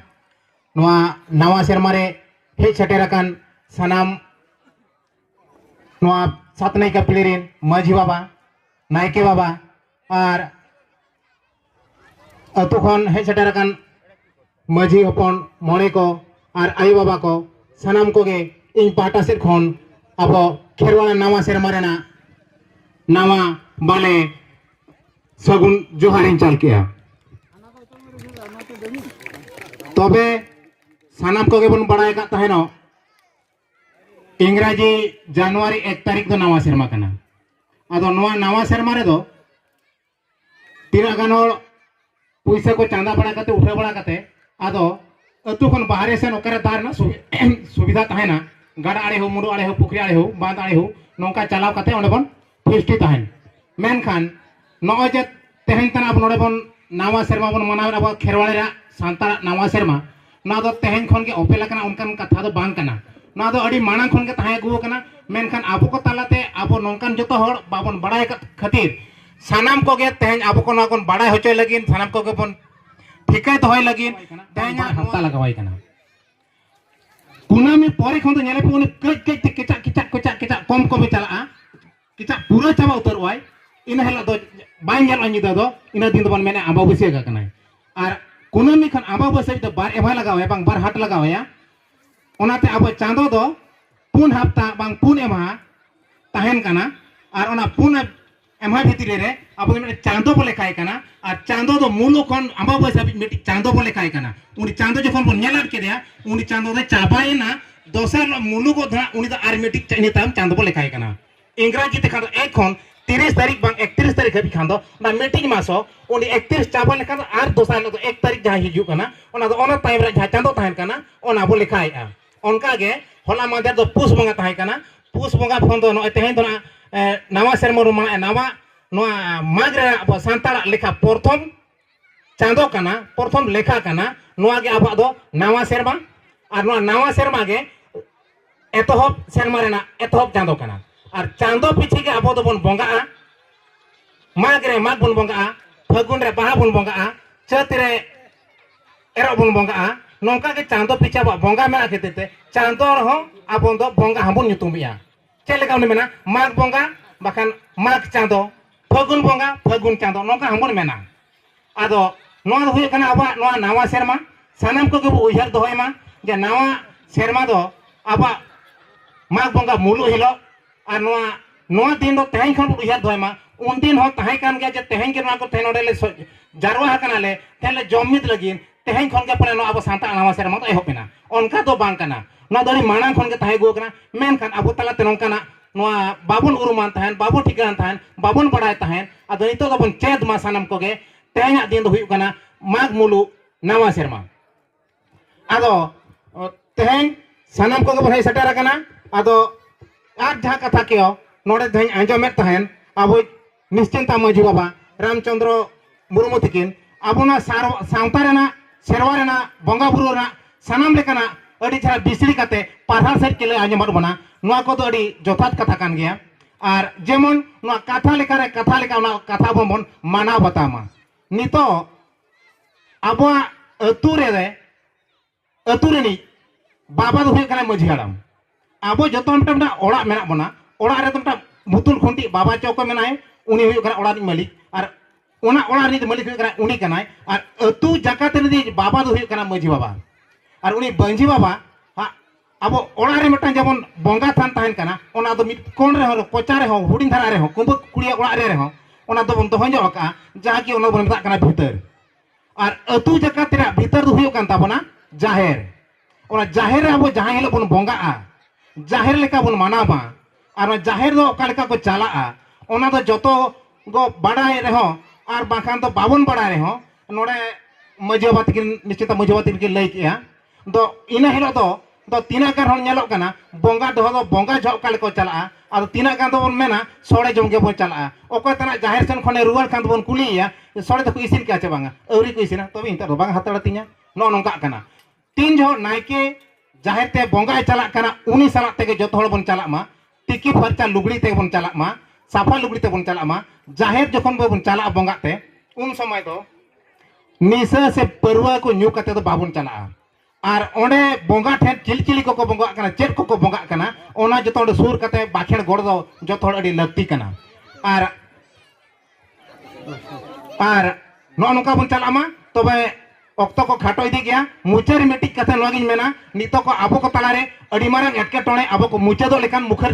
Speaker 2: ᱱᱚᱣᱟ ᱱᱟᱣᱟ ᱥᱮᱨᱢᱟ ᱨᱮ ᱦᱮᱡ ᱥᱮᱴᱮᱨ ᱟᱠᱟᱱ ᱥᱟᱱᱟᱢ ᱱᱚᱣᱟ ᱥᱟᱛ ᱱᱟᱭᱠᱟ ᱯᱤᱲᱦᱤ ᱨᱮᱱ ᱢᱟᱹᱡᱷᱤ ᱵᱟᱵᱟ ᱱᱟᱭᱠᱮ ᱵᱟᱵᱟ ᱟᱨ ᱟᱹᱛᱩ ᱠᱷᱚᱱ ᱦᱮᱡ ᱥᱮᱴᱮᱨ ᱟᱠᱟᱱ ᱢᱟᱹᱡᱷᱤ ᱦᱚᱯᱚᱱ ᱢᱚᱬᱮ ᱠᱚ ᱟᱨ ᱟᱭᱳ ᱵᱟᱵᱟ ᱠᱚ ᱥᱟᱱᱟᱢ ᱠᱚᱜᱮ ᱤᱧ ᱯᱟᱦᱴᱟ ᱥᱮᱫ ᱠᱷᱚᱱ ᱟᱵᱚ ᱠᱷᱮᱨᱣᱟᱲ ᱱᱟᱣᱟ ᱥᱮᱨᱢᱟ ᱨᱮᱱᱟᱜ ᱱᱟᱣᱟ ᱵᱟᱞᱮ ᱥᱟᱹᱜᱩᱱ ᱡᱚᱦᱟᱨᱤᱧ ᱪᱟᱞ ᱠᱮᱜᱼᱟ ᱛᱚᱵᱮ ᱥᱟᱱᱟᱢ ᱠᱚᱜᱮ ᱵᱚᱱ ᱵᱟᱲᱟᱭ ᱠᱟᱜ ᱛᱟᱦᱮᱱᱚᱜ ᱤᱝᱨᱟᱡᱤ ᱡᱟᱱᱩᱣᱟᱨᱤ ᱮᱠ ᱛᱟᱹᱨᱤᱠᱷ ᱫᱚ ᱱᱟᱣᱟ ᱥᱮᱨᱢᱟ ᱠᱟᱱᱟ ᱟᱫᱚ ᱱᱚᱣᱟ ᱱᱟᱣᱟ ᱥᱮᱨᱢᱟ ᱨᱮᱫᱚ ᱛᱤᱱᱟᱹᱜ ᱜᱟᱱ ᱦᱚᱲ ᱯᱩᱭᱥᱟᱹ ᱠᱚ ᱪᱟᱸᱫᱟ ᱵᱟᱲᱟ ᱠᱟᱛᱮ ᱩᱴᱷᱟᱹᱣ ᱵᱟᱲᱟ ᱠᱟᱛᱮ ᱟᱫᱚ ᱟᱹᱛᱩ ᱠᱷᱚᱱ ᱵᱟᱦᱨᱮ ᱥᱮᱱ ᱚᱠᱟᱨᱮ ᱫᱟᱜ ᱨᱮᱱᱟᱜ ᱥᱩᱵᱤᱫᱷᱟ ᱛᱟᱦᱮᱱᱟ ᱜᱟᱰᱟ ᱟᱲᱮ ᱦᱚᱸ ᱢᱩᱰᱩ ᱟᱲᱮ ᱦᱚᱸ ᱯᱩᱠᱷᱨᱤ ᱟᱲᱮ ᱦᱚᱸ ᱵᱟᱸᱫ ᱟᱲᱮ ᱦᱚᱸ ᱱᱚᱝᱠᱟ ᱪᱟᱞᱟᱣ ᱠᱟᱛᱮ ᱚᱸᱰᱮ ᱵᱚᱱ ᱯᱷᱤᱥᱴᱤ ᱛᱟᱦᱮᱱ ᱢᱮᱱᱠᱷᱟᱱ ᱱᱚᱜᱼᱚᱭ ᱡᱮ ᱛᱮᱦᱮᱧ ᱛᱟᱱᱟᱜ ᱟᱵᱚ ᱱᱚᱰᱮ ᱵᱚᱱ ᱱᱟᱣᱟ ᱥᱮᱨᱢᱟ ᱵᱚᱱ ᱢᱟᱱᱟᱣᱮᱫ ᱟᱵᱚᱣᱟᱜ ᱠᱷᱮᱨᱣᱟᱲ ᱨᱮᱭᱟᱜ ᱥᱟᱱᱛᱟᱲᱟᱜ ᱱᱟᱣᱟ ᱥᱮᱨᱢᱟ ᱱᱚᱣᱟ ᱫᱚ ᱛᱮᱦᱮᱧ ᱠᱷᱚᱱ ᱜᱮ ᱚᱯᱮᱞ ᱟᱠᱟᱱᱟ ᱚᱱᱠᱟᱱ ᱠᱟᱛᱷᱟ ᱫᱚ ᱵᱟᱝ ᱠᱟᱱᱟ ᱱᱚᱣᱟ ᱫᱚ ᱟᱹᱰᱤ ᱢᱟᱲᱟᱝ ᱠᱷᱚᱱ ᱜᱮ ᱛᱟᱦᱮᱸ ᱟᱹᱜᱩ ᱟᱠᱟᱱᱟ ᱢᱮᱱᱠᱷᱟᱱ ᱟᱵᱚ ᱠᱚ ᱛᱟᱞᱟᱛᱮ ᱟᱵᱚ ᱱᱚᱝᱠᱟᱱ ᱡᱚᱛᱚ ᱦᱚᱲ ᱵᱟᱵᱚᱱ ᱵᱟᱲᱟᱭ ᱟᱠᱟᱫ ᱠᱷᱟᱹᱛᱤᱨ ᱥᱟᱱᱟᱢ ᱠᱚᱜᱮ ᱛᱮᱦᱮᱧ ᱟᱵᱚ ᱠᱚ ᱱᱚᱣᱟ ᱵᱚᱱ ᱵᱟᱲᱟᱭ ᱦᱚᱪᱚᱭ ᱞᱟᱹᱜᱤᱫ ᱥᱟᱱᱟᱢ ᱠᱚᱜᱮ ᱵᱚᱱ ᱴᱷᱤᱠᱟᱹ ᱫᱚᱦᱚᱭ ᱞᱟᱹᱜᱤᱫ ᱛᱮᱦᱮᱧ ᱦᱟᱯᱛᱟ ᱞᱟᱜᱟᱣᱟᱭ ᱠᱟᱱᱟ ᱠᱩᱱᱟᱹᱢᱤ ᱯᱚᱨᱮ ᱠᱷᱚᱱ ᱫᱚ ᱧᱮᱞᱮ ᱯᱮ ᱩᱱᱤ ᱠᱟᱹᱡ ᱠᱟᱹᱡ ᱛᱮ ᱠᱮᱪᱟᱜ ᱠᱮᱪᱟᱜ ᱠᱮᱪᱟᱜ ᱠᱮᱪᱟᱜ ᱠᱚᱢ ᱠᱚᱢᱮ ᱪᱟᱞᱟᱜᱼᱟ ᱠᱤᱪᱷᱟ ᱯᱩᱨᱟᱹ ᱪᱟᱵᱟ ᱩᱛᱟᱹᱨᱚᱜ ᱟᱭ ᱤᱱᱟᱹ ᱦᱤᱞᱳᱜ ᱫᱚ ᱵᱟᱭ ᱧᱮᱞᱚᱜᱼᱟ ᱧᱤᱫᱟᱹ ᱫᱚ ᱤᱱᱟᱹ ᱫᱤᱱ ᱫᱚᱵᱚᱱ ᱢᱮᱱᱟ ᱟᱢᱵᱟᱵᱟᱹᱥᱭᱟᱹ ᱜᱟ ᱠᱟᱱᱟᱭ ᱟᱨ ᱠᱩᱱᱟᱹᱢᱤ ᱠᱷᱚᱱ ᱟᱢᱵᱟᱵᱟᱹᱥᱭᱟᱹ ᱫᱚ ᱵᱟᱨ ᱮᱵᱷᱟ ᱞᱟᱜᱟᱣᱟᱭᱟ ᱵᱟᱝ ᱵᱟᱨ ᱦᱟᱴ ᱞᱟᱜᱟᱣᱟᱭᱟ ᱚᱱᱟᱛᱮ ᱟᱵᱚ ᱪᱟᱸᱫᱚ ᱫᱚ ᱯᱩᱱ ᱦᱟᱯᱛᱟ ᱵᱟᱝ ᱯᱩᱱ ᱮᱢᱦᱟ ᱛᱟᱦᱮᱱ ᱠᱟᱱᱟ ᱟᱨ ᱚᱱᱟ ᱯᱩᱱ ᱮᱢᱦᱟ ᱵᱷᱤᱛᱨᱤ ᱨᱮ ᱟᱵᱚ ᱫᱚ ᱢᱤᱫᱴᱮᱱ ᱪᱟᱸᱫᱚ ᱵᱚ ᱞᱮᱠᱷᱟᱭ ᱠᱟᱱᱟ ᱟᱨ ᱪᱟᱸᱫᱚ ᱫᱚ ᱢᱩᱞᱩᱜ ᱠᱷᱚᱱ ᱟᱢᱵᱟᱵᱟᱹᱥᱭᱟᱹ ᱦᱟᱹᱵᱤᱡ ᱢᱤᱫᱴᱤᱡ ᱪᱟᱸᱫᱚ ᱵᱚ ᱞᱮᱠᱷᱟᱭ ᱠᱟᱱᱟ ᱩᱱᱤ ᱪᱟᱸᱫᱚ ᱡᱚᱠᱷᱚᱱ ᱵᱚᱱ ᱧᱮᱞ ᱟᱫ ᱠᱮᱫᱮᱭᱟ ᱩᱱᱤ ᱪᱟᱸᱫᱚ ᱫᱚ ᱪᱟᱵᱟᱭᱮᱱᱟ ᱫᱚᱥᱟᱨ ᱱᱚᱣᱟ ᱢᱩᱞᱩᱜ ᱫᱚ ᱦᱟᱸᱜ ᱩᱱᱤ ᱫᱚ ᱟᱨ ᱢᱤᱫᱴᱤᱡ ᱤᱱᱟᱹ ᱛᱟᱭᱚᱢ ᱪᱟᱸᱫᱚ ᱵᱚ ᱞᱮᱠᱷᱟᱭ ᱠᱟᱱᱟ ᱤᱝᱨᱟᱡᱤ ᱛᱮᱠᱷᱟᱱ ᱫᱚ ᱮᱠ ᱠᱷᱚᱱ ᱛᱤᱨᱤᱥ ᱛᱟᱹᱨᱤᱠᱷ ᱵᱟᱝ ᱮᱠᱛᱤᱨᱤᱥ ᱛᱟᱹᱨᱤᱠᱷ ᱦᱟᱹᱵᱤᱡ ᱠᱷᱟᱱ ᱫᱚ ᱚᱱᱟ ᱢᱤᱫᱴᱤᱡ ᱢᱟᱥ ᱦᱚᱸ ᱩᱱᱤ ᱮᱠᱛᱤᱨᱤᱥ ᱪᱟᱵᱟ ᱞᱮᱠᱷᱟᱱ ᱟᱨ ᱫᱚᱥᱟᱨ ᱦᱤᱞᱳᱜ ᱫᱚ ᱮᱠ ᱛᱟᱹᱨᱤᱠᱷ ᱡᱟᱦᱟᱸ ᱦᱤᱡᱩᱜ ᱠᱟᱱᱟ ᱚᱱᱟ ᱫᱚ ᱚᱱᱟ ᱛᱟᱭᱚᱢ ᱨᱮ ᱡᱟᱦᱟᱸ ᱪᱟᱸᱫᱚ ᱛᱟᱦᱮᱱ ᱠᱟᱱᱟ ᱚᱱᱟ ᱵᱚ ᱞᱮᱠᱷᱟᱭᱮᱜᱼᱟ ᱚᱱᱠᱟ ᱜᱮ ᱦᱚᱞᱟ ᱢᱟᱫᱷᱮᱨ ᱫᱚ ᱯᱩᱥ ᱵᱚᱸᱜᱟ ᱛᱟᱦᱮᱸ ᱠᱟᱱᱟ ᱯᱩᱥ ᱵᱚᱸᱜᱟ ᱠᱷᱚᱱ ᱫᱚ ᱱᱚᱜᱼᱚᱭ ᱛᱮᱦᱮᱧ ᱫᱚ ᱱᱟᱜ ᱱᱟᱣᱟ ᱥᱮᱨᱢᱟ ᱵᱚᱱ ᱢᱟᱱᱟᱣᱮᱜᱼᱟ ᱱᱟᱣᱟ ᱱᱚᱣᱟ ᱢᱟᱜᱽ ᱨᱮᱱᱟᱜ ᱟᱵᱚ ᱥᱟᱱᱛᱟᱲᱟᱜ ᱞᱮᱠᱷᱟ ᱯᱨᱚᱛᱷᱚᱢ ᱪᱟᱸᱫᱚ ᱠᱟᱱᱟ ᱯᱨᱚᱛᱷᱚᱢ ᱞᱮᱠᱷᱟ ᱠᱟᱱᱟ ᱱᱚᱣᱟ ᱜᱮ ᱟᱵᱚᱣᱟᱜ ᱫᱚ ᱱᱟᱣᱟ ᱥᱮᱨᱢᱟ ᱟᱨ ᱱᱚᱣᱟ ᱱᱟᱣᱟ ᱥᱮᱨᱢᱟ ᱜᱮ ᱮᱛᱚᱦᱚᱵ ᱥᱮᱨᱢᱟ ᱨᱮᱱᱟᱜ ᱮᱛᱚᱦᱚᱵ ᱪᱟᱸᱫᱚ ᱠᱟᱱᱟ ᱟᱨ ᱪᱟᱸᱫᱚ ᱯᱤᱪᱷᱤ ᱜᱮ ᱟᱵᱚ ᱫᱚᱵᱚᱱ ᱵᱚᱸᱜᱟᱜᱼᱟ ᱢᱟᱜᱽ ᱨᱮ ᱢᱟᱜᱽ ᱵᱚᱱ ᱵᱚᱸᱜᱟᱜᱼᱟ ᱯᱷᱟᱹᱜᱩᱱ ᱨᱮ ᱵᱟᱦᱟ ᱵᱚᱱ ᱵᱚᱸᱜᱟᱜᱼᱟ ᱪᱟᱹᱛ ᱨᱮ ᱮᱨᱚᱜ ᱵᱚᱱ ᱵᱚᱸᱜᱟᱜᱼᱟ ᱱᱚᱝᱠᱟ ᱜᱮ ᱪᱟᱸᱫᱚ ᱯᱤᱪᱷᱤ ᱟᱵᱚᱣᱟᱜ ᱵᱚᱸᱜᱟ ᱢᱮᱱᱟᱜ ᱠᱷᱟᱹᱛᱤᱨ ᱛᱮ ᱪᱟᱸᱫᱚ ᱨᱮᱦᱚᱸ ᱟᱵᱚ ᱫᱚ ᱵᱚᱸᱜᱟ ᱦᱚᱸᱵᱚᱱ ᱧᱩᱛᱩᱢᱮᱜᱼᱟ ᱪᱮᱫ ᱞᱮᱠᱟ ᱩᱱᱤ ᱢᱮᱱᱟ ᱢᱟᱜᱽ ᱵᱚᱸᱜᱟ ᱵᱟᱠᱷᱟᱱ ᱢᱟᱜᱽ ᱪᱟᱸᱫᱚ ᱯᱷᱟᱹᱜᱩᱱ ᱵᱚᱸᱜᱟ ᱯᱷᱟᱹᱜᱩᱱ ᱪᱟᱸᱫᱚ ᱱᱚᱝᱠᱟ ᱦᱚᱸᱵᱚᱱ ᱢᱮᱱᱟ ᱟᱫᱚ ᱱᱚᱣᱟ ᱫᱚ ᱦᱩᱭᱩᱜ ᱠᱟᱱᱟ ᱟᱵᱚᱣᱟᱜ ᱱᱚᱣᱟ ᱱᱟᱣᱟ ᱥᱮᱨᱢᱟ ᱥᱟᱱᱟᱢ ᱠᱚᱜᱮ ᱵᱚ ᱩᱭᱦᱟᱹᱨ ᱫᱚᱦᱚᱭ ᱢᱟ ᱡᱮ ᱱᱟᱣᱟ ᱥᱮᱨᱢᱟ ᱫᱚ ᱟᱵᱚᱣᱟᱜ ᱢᱟᱜᱽ ᱵᱚᱸᱜᱟ ᱢᱩᱞᱩᱜ ᱦᱤᱞᱳᱜ ᱟᱨ ᱱᱚᱣᱟ ᱱᱚᱣᱟ ᱫᱤᱱ ᱫᱚ ᱛᱮᱦᱮᱧ ᱠᱷᱚᱱ ᱵᱚ ᱩᱭᱦᱟᱹᱨ ᱫᱚᱦᱚᱭ ᱢᱟ ᱩᱱᱫᱤᱱ ᱦᱚᱸ ᱛᱟᱦᱮᱸ ᱠᱟᱱ ᱜᱮᱭᱟ ᱡᱮ ᱛᱮᱦᱮᱧ ᱜᱮ ᱱᱚᱣᱟ ᱠᱚ ᱛᱮᱦᱮᱧ ᱱᱚᱰᱮ ᱞᱮ ᱡᱟᱨᱣᱟ ᱟᱠᱟᱱᱟᱞᱮ ᱛᱮᱦᱮᱧ ᱞᱮ ᱡᱚᱢ ᱢᱤᱫ ᱞᱟᱹᱜᱤᱫ ᱛᱮᱦᱮᱧ ᱠᱷᱚᱱ ᱜᱮ ᱯᱟᱞᱮ ᱱᱚᱣᱟ ᱟᱵᱚ ᱥᱟᱱᱛᱟᱲ ᱱᱟᱣᱟ ᱥᱮᱨᱢᱟ ᱫᱚ ᱮᱦᱚᱵ ᱮᱱᱟ ᱚᱱᱠᱟ ᱫᱚ ᱵᱟᱝ ᱠᱟᱱᱟ ᱱᱚᱣᱟ ᱫᱚ ᱟᱹᱰᱤ ᱢᱟᱲᱟᱝ ᱠᱷᱚᱱ ᱜᱮ ᱛᱟᱦᱮᱸ ᱟᱹᱜᱩ ᱟᱠᱟᱱᱟ ᱢᱮᱱᱠᱷᱟᱱ ᱟᱵᱚ ᱛᱟᱞᱟᱛᱮ ᱱᱚᱝᱠᱟᱱᱟᱜ ᱱᱚᱣᱟ ᱵᱟᱵᱚᱱ ᱩᱨᱩᱢᱟᱱ ᱛᱟᱦᱮᱸᱫ ᱵᱟᱵᱚᱱ ᱴᱷᱤᱠᱟᱹᱱ ᱛᱟᱦᱮᱸᱫ ᱵᱟᱵᱚᱱ ᱵᱟᱲᱟᱭ ᱛᱟᱦᱮᱸᱫ ᱟᱫᱚ ᱱᱤᱛᱚᱜ ᱫᱚᱵᱚᱱ ᱪᱮᱫ ᱢᱟ ᱥᱟᱱᱟᱢ ᱠᱚᱜᱮ ᱛᱮᱦᱮᱧᱟᱜ ᱫᱤᱱ ᱫᱚ ᱦᱩᱭᱩᱜ ᱠᱟᱱᱟ ᱢᱟᱜᱽ ᱢᱩᱞᱩᱜ ᱱᱟᱣᱟ ᱥᱮᱨᱢᱟ ᱟᱫᱚ ᱛᱮᱦᱮᱧ ᱥᱟᱱᱟᱢ ᱠᱚᱜᱮ ᱵᱚᱱ ᱦᱮᱡ ᱥᱮᱴᱮᱨ ᱟᱠᱟᱱᱟ ᱟᱫᱚ ᱟᱨ ᱡᱟᱦᱟᱸ ᱠᱟᱛᱷᱟ ᱠᱚ ᱱᱚᱰᱮ ᱛᱮᱦᱮᱧ ᱟᱸᱡᱚᱢᱮᱫ ᱛᱟᱦᱮᱸᱫ ᱟᱵᱚᱭᱤᱡ ᱱᱤᱥᱪᱤᱱᱛᱟ ᱢᱟᱹᱡᱷᱤ ᱵᱟᱵᱟ ᱨᱟᱢᱪᱚᱱᱫᱨᱚ ᱢᱩᱨᱢᱩ ᱛᱤᱠᱤᱱ ᱟᱵᱚᱱᱟᱜ ᱥᱟᱶᱛᱟ ᱨᱮᱱᱟᱜ ᱥᱮᱨᱣᱟ ᱨᱮᱱᱟᱜ ᱵᱚᱸᱜᱟ ᱵᱩᱨᱩ ᱨᱮᱱᱟᱜ ᱥᱟᱱᱟᱢ ᱞᱮᱠᱟᱱᱟᱜ ᱟᱹᱰᱤ ᱪᱮᱦᱨᱟ ᱵᱤᱥᱲᱤ ᱠᱟᱛᱮ ᱯᱟᱨᱦᱟᱲ ᱥᱮᱫ ᱠᱮᱞᱮ ᱟᱸᱡᱚᱢᱟᱫ ᱵᱚᱱᱟ ᱱᱚᱣᱟ ᱠᱚᱫᱚ ᱟᱹᱰᱤ ᱡᱚᱛᱷᱟᱛ ᱠᱟᱛᱷᱟ ᱠᱟᱱ ᱜᱮᱭᱟ ᱟᱨ ᱡᱮᱢᱚᱱ ᱱᱚᱣᱟ ᱠᱟᱛᱷᱟ ᱞᱮᱠᱟᱨᱮ ᱠᱟᱛᱷᱟ ᱞᱮᱠᱟ ᱚᱱᱟ ᱠᱟᱛᱷᱟ ᱵᱚᱱ ᱵᱚᱱ ᱢᱟᱱᱟᱣ ᱵᱟᱛᱟᱣ ᱢᱟ ᱱᱤᱛᱚᱜ ᱟᱵᱚᱣᱟᱜ ᱟᱹᱛᱩ ᱨᱮ ᱟᱹᱛᱩ ᱨᱤᱱᱤᱡ ᱵᱟᱵᱟ ᱫᱚ ᱦᱩᱭᱩᱜ ᱠᱟᱱᱟ ᱢᱟᱹᱡᱷᱤ ᱦᱟᱲᱟᱢ ᱟᱵᱚ ᱡᱚᱛᱚ ᱦᱚᱲ ᱢᱤᱫᱴᱟᱝ ᱢᱤᱫᱴᱟᱝ ᱚᱲᱟᱜ ᱢᱮᱱᱟᱜ ᱵᱚᱱᱟ ᱚᱲᱟᱜ ᱨᱮᱫᱚ ᱢᱤᱫᱴᱟᱝ ᱵᱩᱛᱩᱞ ᱠᱷᱩᱱᱴᱤ ᱵᱟᱵᱟ ᱪᱚᱠᱚ ᱢᱮᱱᱟᱭ ᱩᱱᱤ ᱦᱩᱭᱩᱜ ᱠᱟᱱᱟ ᱚᱲᱟᱜ ᱨᱤᱱᱤᱡ ᱢᱟᱹᱞᱤᱠ ᱟᱨ ᱚᱱᱟ ᱚᱲᱟᱜ ᱨᱤᱱᱤᱡ ᱢᱟᱹᱞᱤᱠ ᱦᱩᱭᱩᱜ ᱠᱟᱱᱟ ᱩᱱᱤ ᱠᱟᱱᱟᱭ ᱟᱨ ᱟᱹᱛᱩ ᱡᱟᱠᱟᱛ ᱨᱤᱱᱤᱡ ᱵᱟᱵᱟ ᱫᱚ ᱦᱩᱭᱩᱜ ᱠᱟᱱᱟ ᱢᱟᱹᱡᱷᱤ ᱵᱟᱵᱟ ᱟᱨ ᱩᱱᱤ ᱢᱟᱹᱡᱷᱤ ᱵᱟᱵᱟ ᱟᱵᱚ ᱚᱲᱟᱜ ᱨᱮ ᱢᱤᱫᱴᱟᱝ ᱡᱮᱢᱚᱱ ᱵᱚᱸᱜᱟ ᱛᱷᱟᱱ ᱛᱟᱦᱮᱱ ᱠᱟᱱᱟ ᱚᱱᱟ ᱫᱚ ᱢᱤᱫ ᱠᱚᱬ ᱨᱮᱦᱚᱸ ᱠᱚᱪᱟ ᱨᱮᱦᱚᱸ ᱦᱩᱰᱤᱧ ᱫᱷᱟᱨᱟ ᱨᱮᱦᱚᱸ ᱠᱩᱸᱵᱟᱹ ᱠᱩᱲᱤᱭᱟᱜ ᱚᱲᱟᱜ ᱨᱮ ᱨᱮᱦᱚᱸ ᱚᱱᱟ ᱫᱚᱵᱚᱱ ᱫᱚᱦᱚ ᱧᱚᱜ ᱟᱠᱟᱜᱼᱟ ᱡᱟᱦᱟᱸ ᱠᱤ ᱚᱱᱟ ᱵᱚᱱ ᱢᱮᱛᱟᱜ ᱠᱟᱱᱟ ᱵᱷᱤᱛᱟᱹᱨ ᱟᱨ ᱟᱹᱛᱩ ᱡᱟᱠᱟᱛ ᱨᱮᱭᱟᱜ ᱵᱷᱤᱛᱟᱹᱨ ᱫᱚ ᱦᱩᱭᱩᱜ ᱠᱟᱱ ᱛᱟᱵᱚᱱᱟ ᱡᱟᱦᱮᱨ ᱚᱱᱟ ᱡᱟᱦᱮᱨ ᱨᱮ ᱟᱵᱚ ᱡᱟᱦᱟᱸ ᱦᱤᱞᱳᱜ ᱵᱚᱱ ᱵᱚᱸᱜᱟᱜᱼᱟ ᱡᱟᱦᱮᱨ ᱞᱮᱠᱟ ᱵᱚᱱ ᱢᱟᱱᱟᱣᱟ ᱟᱨ ᱚᱱᱟ ᱡᱟᱦᱮᱨ ᱫᱚ ᱚᱠᱟ ᱞᱮᱠᱟ ᱠᱚ ᱪᱟᱞᱟᱜᱼᱟ ᱚᱱᱟ ᱫᱚ ᱡᱚᱛᱚ ᱜᱚ ᱵᱟᱰᱟᱭ ᱨᱮᱦᱚᱸ ᱟᱨ ᱵᱟᱝᱠᱷᱟᱱ ᱫᱚ ᱵᱟᱵᱚᱱ ᱵᱟᱰᱟᱭ ᱨᱮᱦᱚᱸ ᱱᱚᱰᱮ ᱢᱟᱺᱡᱷᱤ ᱵᱟᱵᱟ ᱛᱟᱹᱠᱤᱱ ᱱᱤᱥᱪᱤᱛᱟ ᱢᱟᱺᱡᱷᱤ ᱵᱟᱵᱟ ᱛᱟᱹᱠᱤᱱ ᱠᱤᱱ ᱞᱟᱹᱭ ᱠᱮᱜᱼᱟ ᱫᱚ ᱤᱱᱟᱹ ᱦᱤᱞᱳᱜ ᱫᱚ ᱫᱚ ᱛᱤᱱᱟᱹᱜ ᱜᱟᱱ ᱦᱚᱲ ᱧᱮᱞᱚᱜ ᱠᱟᱱᱟ ᱵᱚᱸᱜᱟ ᱫᱚᱦᱚ ᱫᱚ ᱵᱚᱸᱜᱟ ᱡᱚᱦᱚᱜ ᱚᱠᱟ ᱞᱮᱠᱟ ᱠᱚ ᱪᱟᱞᱟᱜᱼᱟ ᱟᱫᱚ ᱛᱤᱱᱟᱹᱜ ᱜᱟᱱ ᱫᱚᱵᱚᱱ ᱢᱮᱱᱟ ᱥᱚᱲᱮ ᱡᱚᱢ ᱜᱮᱵᱚᱱ ᱪᱟᱞᱟᱜᱼᱟ ᱚᱠᱚᱭ ᱛᱟᱱᱟᱜ ᱡᱟᱦᱮᱨ ᱥᱮᱱ ᱠᱷᱚᱱᱮ ᱨᱩᱣᱟᱹᱲ ᱠᱟᱱ ᱫᱚᱵᱚᱱ ᱠᱩᱞᱤᱭᱮᱭᱟ ᱥᱚᱲᱮ ᱫᱚᱠᱚ ᱤᱥᱤᱱ ᱠᱮᱜᱼᱟ ᱪᱮ ᱵᱟᱝᱟ ᱟᱹᱣᱨᱤ ᱠᱚ ᱤᱥᱤᱱᱟ ᱛᱚᱵᱮ ᱱᱤᱛᱚᱜ ᱫᱚ ᱵᱟᱝ ᱦᱟᱛᱟᱲ ᱛᱤᱧᱟᱹ ᱱᱚᱜᱼᱚ ᱱᱚᱝᱠᱟᱜ ᱠᱟᱱᱟ ᱛᱤᱱ ᱡᱚᱦᱚᱜ ᱱᱟᱭᱠᱮ ᱡᱟᱦᱮᱨ ᱛᱮ ᱵᱚᱸᱜᱟᱭ ᱪᱟᱞᱟᱜ ᱠᱟᱱᱟ ᱩᱱᱤ ᱥᱟᱞᱟᱜ ᱛᱮᱜᱮ ᱡᱚᱛᱚ ᱦᱚᱲ ᱵᱚᱱ ᱪᱟᱞᱟᱜ ᱢᱟ ᱛᱤᱠᱤ ᱯᱷᱟᱨᱪᱟ ᱞᱩᱜᱽᱲᱤ ᱛᱮᱵᱚᱱ ᱪᱟᱞᱟᱜ ᱢᱟ ᱥᱟᱯᱷᱟ ᱞᱩᱜᱽᱲᱤ ᱛᱮᱵᱚᱱ ᱪᱟᱞᱟᱜ ᱢᱟ ᱡᱟᱦᱮᱨ ᱡᱚᱠᱷᱚᱱ ᱵᱚᱱ ᱪᱟᱞᱟᱜᱼᱟ ᱵᱚᱸᱜᱟᱜ ᱛᱮ ᱩᱱ ᱥᱚᱢᱚᱭ ᱫᱚ ᱱᱤᱥᱟᱹ ᱥᱮ ᱯᱟᱹᱨᱣᱟᱹ ᱠᱚ ᱧᱩ ᱠᱟᱛᱮ ᱫᱚ ᱵᱟᱵᱚᱱ ᱪᱟᱞᱟᱜᱼᱟ ᱟᱨ ᱚᱸᱰᱮ ᱵᱚᱸᱜᱟ ᱴᱷᱮᱱ ᱪᱤᱞ ᱪᱤᱞᱤ ᱠᱚᱠᱚ ᱵᱚᱸᱜᱟᱜ ᱠᱟᱱᱟ ᱪᱮᱫ ᱠᱚᱠᱚ ᱵᱚᱸᱜᱟᱜ ᱠᱟᱱᱟ ᱚᱱᱟ ᱡᱚᱛᱚ ᱚᱸᱰᱮ ᱥᱩᱨ ᱠᱟᱛᱮ ᱵᱟᱠᱷᱮᱲ ᱜᱚᱲ ᱫᱚ ᱡᱚᱛᱚ ᱦᱚᱲ ᱟᱹᱰᱤ ᱞᱟᱹᱠᱛᱤ ᱠᱟᱱᱟ ᱟᱨ ᱟᱨ ᱱᱚᱜᱼᱚ ᱱᱚᱝᱠᱟ ᱵᱚᱱ ᱪᱟᱞᱟᱜ ᱢᱟ ᱛᱚᱵᱮ ᱚᱠᱛᱚ ᱠᱚ ᱠᱷᱟᱴᱚ ᱤᱫᱤ ᱜᱮᱭᱟ ᱢᱩᱪᱟᱹᱫ ᱨᱮ ᱢᱤᱫᱴᱤᱡ ᱠᱟᱛᱷᱟ ᱱᱚᱣᱟ ᱜᱤᱧ ᱢᱮᱱᱟ ᱱᱤᱛᱚᱜ ᱠᱚ ᱟᱵᱚ ᱠᱚ ᱛᱟᱞᱟᱨᱮ ᱟᱹᱰᱤ ᱢᱟᱨᱟᱝ ᱮᱴᱠᱮᱴᱚᱬᱮ ᱟᱵᱚ ᱠᱚ ᱢᱩᱪᱟᱹᱫᱚᱜ ᱞᱮᱠᱟᱱ ᱢᱩᱠᱷᱟᱹᱨ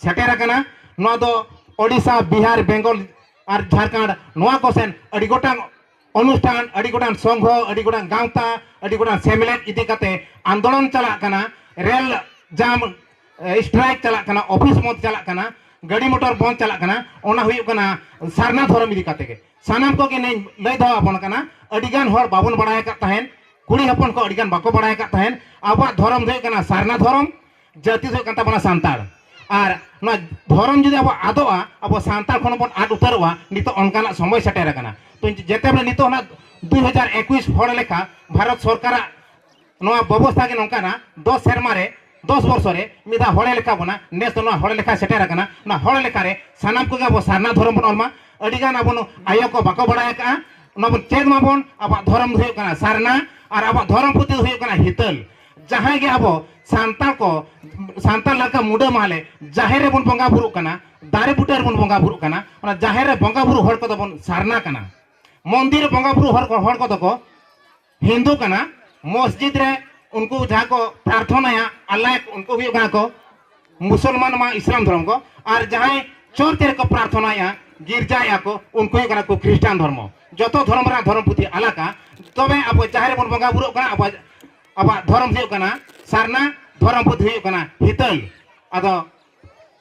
Speaker 2: ᱥᱮᱴᱮᱨ ᱟᱠᱟᱱᱟ ᱱᱚᱣᱟ ᱫᱚ ᱳᱰᱤᱥᱟ ᱵᱤᱦᱟᱨ ᱵᱮᱝᱜᱚᱞ ᱟᱨ ᱡᱷᱟᱲᱠᱷᱚᱸᱰ ᱱᱚᱣᱟ ᱠᱚ ᱥᱮᱱ ᱟᱹᱰᱤ ᱜᱚᱴᱟᱝ ᱚᱱᱩᱥᱴᱷᱟᱱ ᱟᱹᱰᱤ ᱜᱚᱴᱟᱝ ᱥᱚᱝᱜᱷᱚ ᱟᱹᱰᱤ ᱜᱚᱴᱟᱝ ᱜᱟᱶᱛᱟ ᱟᱹᱰᱤ ᱜᱚᱴᱟᱝ ᱥᱮᱢᱞᱮᱫ ᱤᱫᱤ ᱠᱟᱛᱮ ᱟᱱᱫᱳᱞᱚᱱ ᱪᱟᱞᱟᱜ ᱠᱟᱱᱟ ᱨᱮᱞ ᱡᱟᱢ ᱥᱴᱨᱟᱭᱤᱠ ᱪᱟᱞᱟᱜ ᱠᱟᱱᱟ ᱚᱯᱷᱤᱥ ᱵᱚᱱᱫ ᱪᱟᱞᱟᱜ ᱠᱟᱱᱟ ᱜᱟᱹᱰᱤ ᱢᱚᱴᱚᱨ ᱵᱚᱱᱫ ᱪᱟᱞᱟᱜ ᱠᱟᱱᱟ ᱚᱱᱟ ᱦᱩᱭᱩᱜ ᱠᱟᱱᱟ ᱥᱟᱨᱱᱟ ᱫᱷᱚᱨᱚᱢ ᱤᱫᱤ ᱠᱟᱛᱮ ᱜᱮ ᱥᱟᱱᱟᱢ ᱠᱚᱜᱮ ᱱᱮᱧ ᱞᱟᱹᱭ ᱫᱚᱦᱚ ᱟᱵᱚᱱ ᱠᱟᱱᱟ ᱟᱹᱰᱤ ᱜᱟᱱ ᱦᱚᱲ ᱵᱟᱵᱚᱱ ᱵᱟᱲᱟᱭ ᱟᱠᱟᱫ ᱛᱟᱦᱮᱸᱫ ᱠᱩᱲᱤ ᱦᱚᱯᱚᱱ ᱠᱚ ᱟᱹᱰᱤ ᱜᱟᱱ ᱵᱟᱠᱚ ᱵᱟᱲᱟᱭ ᱟᱠᱟᱫ ᱛᱟᱦᱮᱸᱫ ᱟᱵᱚᱣᱟᱜ ᱫᱷᱚᱨᱚᱢ ᱫᱚ ᱦᱩᱭᱩᱜ ᱠᱟᱱᱟ ᱥᱟᱨᱱᱟ ᱫᱷᱚᱨᱚᱢ ᱡᱟᱹᱛᱤ ᱫᱚ ᱦᱩᱭᱩᱜ ᱠᱟᱱ ᱛᱟᱵᱚᱱᱟ ᱥᱟᱱᱛᱟᱲ ᱟᱨ ᱱᱚᱣᱟ ᱫᱷᱚᱨᱚᱢ ᱡᱩᱫᱤ ᱟᱵᱚ ᱟᱫᱚᱜᱼᱟ ᱟᱵᱚ ᱥᱟᱱᱛᱟᱲ ᱠᱷᱚᱱ ᱵᱚᱱ ᱟᱫ ᱩᱛᱟᱹᱨᱚᱜᱼᱟ ᱱᱤᱛᱚᱜ ᱚᱱᱠᱟᱱᱟᱜ ᱥᱚᱢᱚᱭ ᱥᱮᱴᱮᱨ ᱟᱠᱟᱱᱟ ᱛᱚ ᱡᱮᱛᱮ ᱵᱚᱞᱮ ᱱᱤᱛᱚᱜ ᱚᱱᱟ ᱫᱩ ᱦᱟᱡᱟᱨ ᱮᱠᱩᱥ ᱦᱚᱲ ᱞᱮᱠᱟ ᱵᱷᱟᱨᱚᱛ ᱥᱚᱨᱠᱟᱨᱟᱜ ᱱᱚᱣᱟ ᱵᱮᱵᱚᱥᱛᱷᱟ ᱜᱮ ᱱᱚᱝᱠᱟᱱᱟ ᱫᱚᱥ ᱥᱮᱨᱢᱟ ᱨᱮ ᱫᱚᱥ ᱵᱚᱨᱥᱚ ᱨᱮ ᱢᱤᱫ ᱫᱷᱟᱣ ᱦᱚᱲᱮ ᱞᱮᱠᱷᱟ ᱵᱚᱱᱟ ᱱᱮᱥ ᱫᱚ ᱱᱚᱣᱟ ᱦᱚᱲ ᱞᱮᱠᱷᱟ ᱥᱮᱴᱮᱨ ᱟᱠᱟᱱᱟ ᱚᱱᱟ ᱦᱚᱲ ᱞᱮᱠᱷᱟ ᱨᱮ ᱥᱟᱱᱟᱢ ᱠᱚᱜᱮ ᱟᱵᱚ ᱥᱟᱨᱱᱟ ᱫᱷᱚᱨᱚᱢ ᱵᱚᱱ ᱚᱞᱢᱟ ᱟᱹᱰᱤ ᱜᱟᱱ ᱟᱵᱚ ᱟᱭᱳ ᱠᱚ ᱵᱟᱠᱚ ᱵᱟᱲᱟᱭ ᱟᱠᱟᱜᱼᱟ ᱚᱱᱟ ᱵᱚᱱ ᱪᱮᱫ ᱢᱟᱵᱚᱱ ᱟᱵᱚᱣᱟᱜ ᱫᱷᱚᱨᱚᱢ ᱫᱚ ᱦᱩᱭᱩᱜ ᱠᱟᱱᱟ ᱥᱟᱨᱱᱟ ᱟᱨ ᱟᱵᱚᱣᱟᱜ ᱫᱷᱚᱨᱚᱢ ᱯᱩᱛᱷᱤ ᱫᱚ ᱦᱩᱭᱩᱜ ᱠᱟᱱᱟ ᱦᱤᱛᱟᱹᱞ ᱡᱟᱦᱟᱸᱭ ᱜᱮ ᱟᱵᱚ ᱥᱟᱱᱛᱟᱲ ᱠᱚ ᱥᱟᱱᱛᱟᱲ ᱞᱮᱠᱟ ᱢᱩᱰᱟᱹ ᱢᱟᱦᱞᱮ ᱡᱟᱦᱮᱨ ᱨᱮᱵᱚᱱ ᱵᱚᱸᱜᱟ ᱵᱩᱨᱩᱜ ᱠᱟᱱᱟ ᱫᱟᱨᱮ ᱵᱩᱴᱟᱹ ᱨᱮᱵᱚᱱ ᱵᱚᱸᱜᱟ ᱵᱩᱨᱩᱜ ᱠᱟᱱᱟ ᱚᱱᱟ ᱡᱟᱦᱮᱨ ᱨᱮ ᱵᱚᱸᱜᱟ ᱵᱩᱨᱩ ᱦᱚᱲ ᱠᱚᱫᱚ ᱵᱚᱱ ᱥᱟᱨᱱᱟ ᱠᱟᱱᱟ ᱢᱚᱱᱫᱤᱨ ᱨᱮ ᱵᱚᱸᱜᱟ ᱵᱩᱨᱩ ᱦᱚᱲ ᱠᱚ ᱦᱚᱲ ᱠᱚᱫᱚ ᱠᱚ ᱦᱤᱱᱫᱩ ᱠᱟᱱᱟ ᱢᱚᱥᱡᱤᱫ ᱨᱮ ᱩᱱᱠᱩ ᱡᱟᱦᱟᱸ ᱠᱚ ᱯᱨᱟᱨᱛᱷᱚᱱᱟᱭᱟ ᱟᱞᱞᱟ ᱩᱱᱠᱩ ᱦᱩᱭᱩᱜ ᱠᱟᱱᱟ ᱠᱚ ᱢᱩᱥᱚᱞᱢᱟᱱ ᱢᱟ ᱤᱥᱞᱟᱢ ᱫᱷᱚᱨᱚᱢ ᱠᱚ ᱟᱨ ᱡᱟᱦᱟᱸᱭ ᱪᱚᱨᱪ ᱨᱮᱠᱚ ᱯᱨᱟᱨᱛᱷᱚᱱᱟᱭᱟ ᱜᱤᱨᱡᱟᱭᱟ ᱠᱚ ᱩᱱᱠᱩ ᱦᱩᱭᱩᱜ ᱠᱟᱱᱟ ᱠᱚ ᱠᱷᱨᱤᱥᱴᱟᱱ ᱫᱷᱚᱨᱢᱚ ᱡᱚᱛᱚ ᱫᱷᱚᱨᱚᱢ ᱨᱮᱱᱟᱜ ᱫᱷᱚᱨᱚᱢ ᱯᱩᱛᱷᱤ ᱟᱞᱟᱜᱟ ᱛᱚᱵᱮ ᱟᱵᱚ ᱡᱟᱦᱮᱨ ᱨᱮᱵᱚᱱ ᱵᱚᱸᱜᱟ ᱵᱩᱨᱩᱜ ᱠᱟᱱᱟ ᱟᱵᱚ ᱟᱵᱚᱣᱟᱜ ᱫᱷᱚᱨᱚᱢ ᱦᱩᱭᱩᱜ ᱠᱟᱱᱟ ᱥᱟᱨᱱᱟ ᱫᱷᱚᱨᱚᱢ ᱯᱩᱛᱷᱤ ᱦᱩᱭᱩᱜ ᱠᱟᱱᱟ ᱦᱤᱛᱟᱹᱞ ᱟᱫᱚ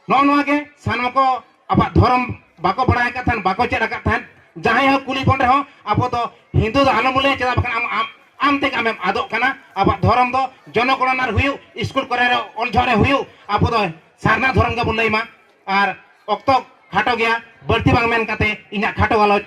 Speaker 2: ᱱᱚᱜᱼᱚ ᱱᱚᱣᱟ ᱜᱮ ᱥᱟᱱᱟᱢ ᱠᱚ ᱟᱵᱚᱣᱟᱜ ᱫᱷᱚᱨᱚᱢ ᱵᱟᱠᱚ ᱵᱟᱲᱟᱭ ᱟᱠᱟᱫ ᱛᱟᱦᱮᱱ ᱵᱟᱠᱚ ᱪᱮᱫ ᱟᱠᱟᱫ ᱛᱟᱦᱮᱱ ᱡᱟᱦᱟᱸᱭ ᱦᱚᱸ ᱠᱩᱞᱤ ᱵᱚᱱ ᱨᱮᱦᱚᱸ ᱟᱵᱚ ᱫᱚ ᱦᱤᱱᱫᱩ ᱫᱚ ᱟᱞᱚᱢ ᱞᱟᱹᱭᱟ ᱪᱮᱫᱟᱜ ᱵᱟᱠᱷᱟᱱ ᱟᱢ ᱟᱢ ᱟᱢ ᱛᱮᱜᱮ ᱟᱢᱮᱢ ᱟᱫᱚᱜ ᱠᱟᱱᱟ ᱟᱵᱚᱣᱟᱜ ᱫᱷᱚᱨᱚᱢ ᱫᱚ ᱡᱚᱱᱚᱜᱚᱬᱱᱟ ᱨᱮ ᱦᱩᱭᱩᱜ ᱥᱠᱩᱞ ᱠᱚᱨᱮ ᱨᱮ ᱚᱞ ᱡᱚᱦᱚᱜ ᱨᱮ ᱦᱩᱭᱩᱜ ᱟᱵᱚ ᱫᱚ ᱥᱟᱨᱱᱟ ᱫᱷᱚᱨᱚᱢ ᱜᱮᱵᱚᱱ ᱞᱟᱹᱭ ᱢᱟ ᱟᱨ ᱚᱠᱛᱚ ᱠᱷᱟᱴᱚ ᱜᱮᱭᱟ ᱵᱟᱹᱲᱛᱤ ᱵᱟᱝ ᱢᱮᱱ ᱠᱟᱛᱮ ᱤᱧᱟᱹᱜ ᱠᱷᱟᱴᱚ ᱜᱟᱞᱚᱪ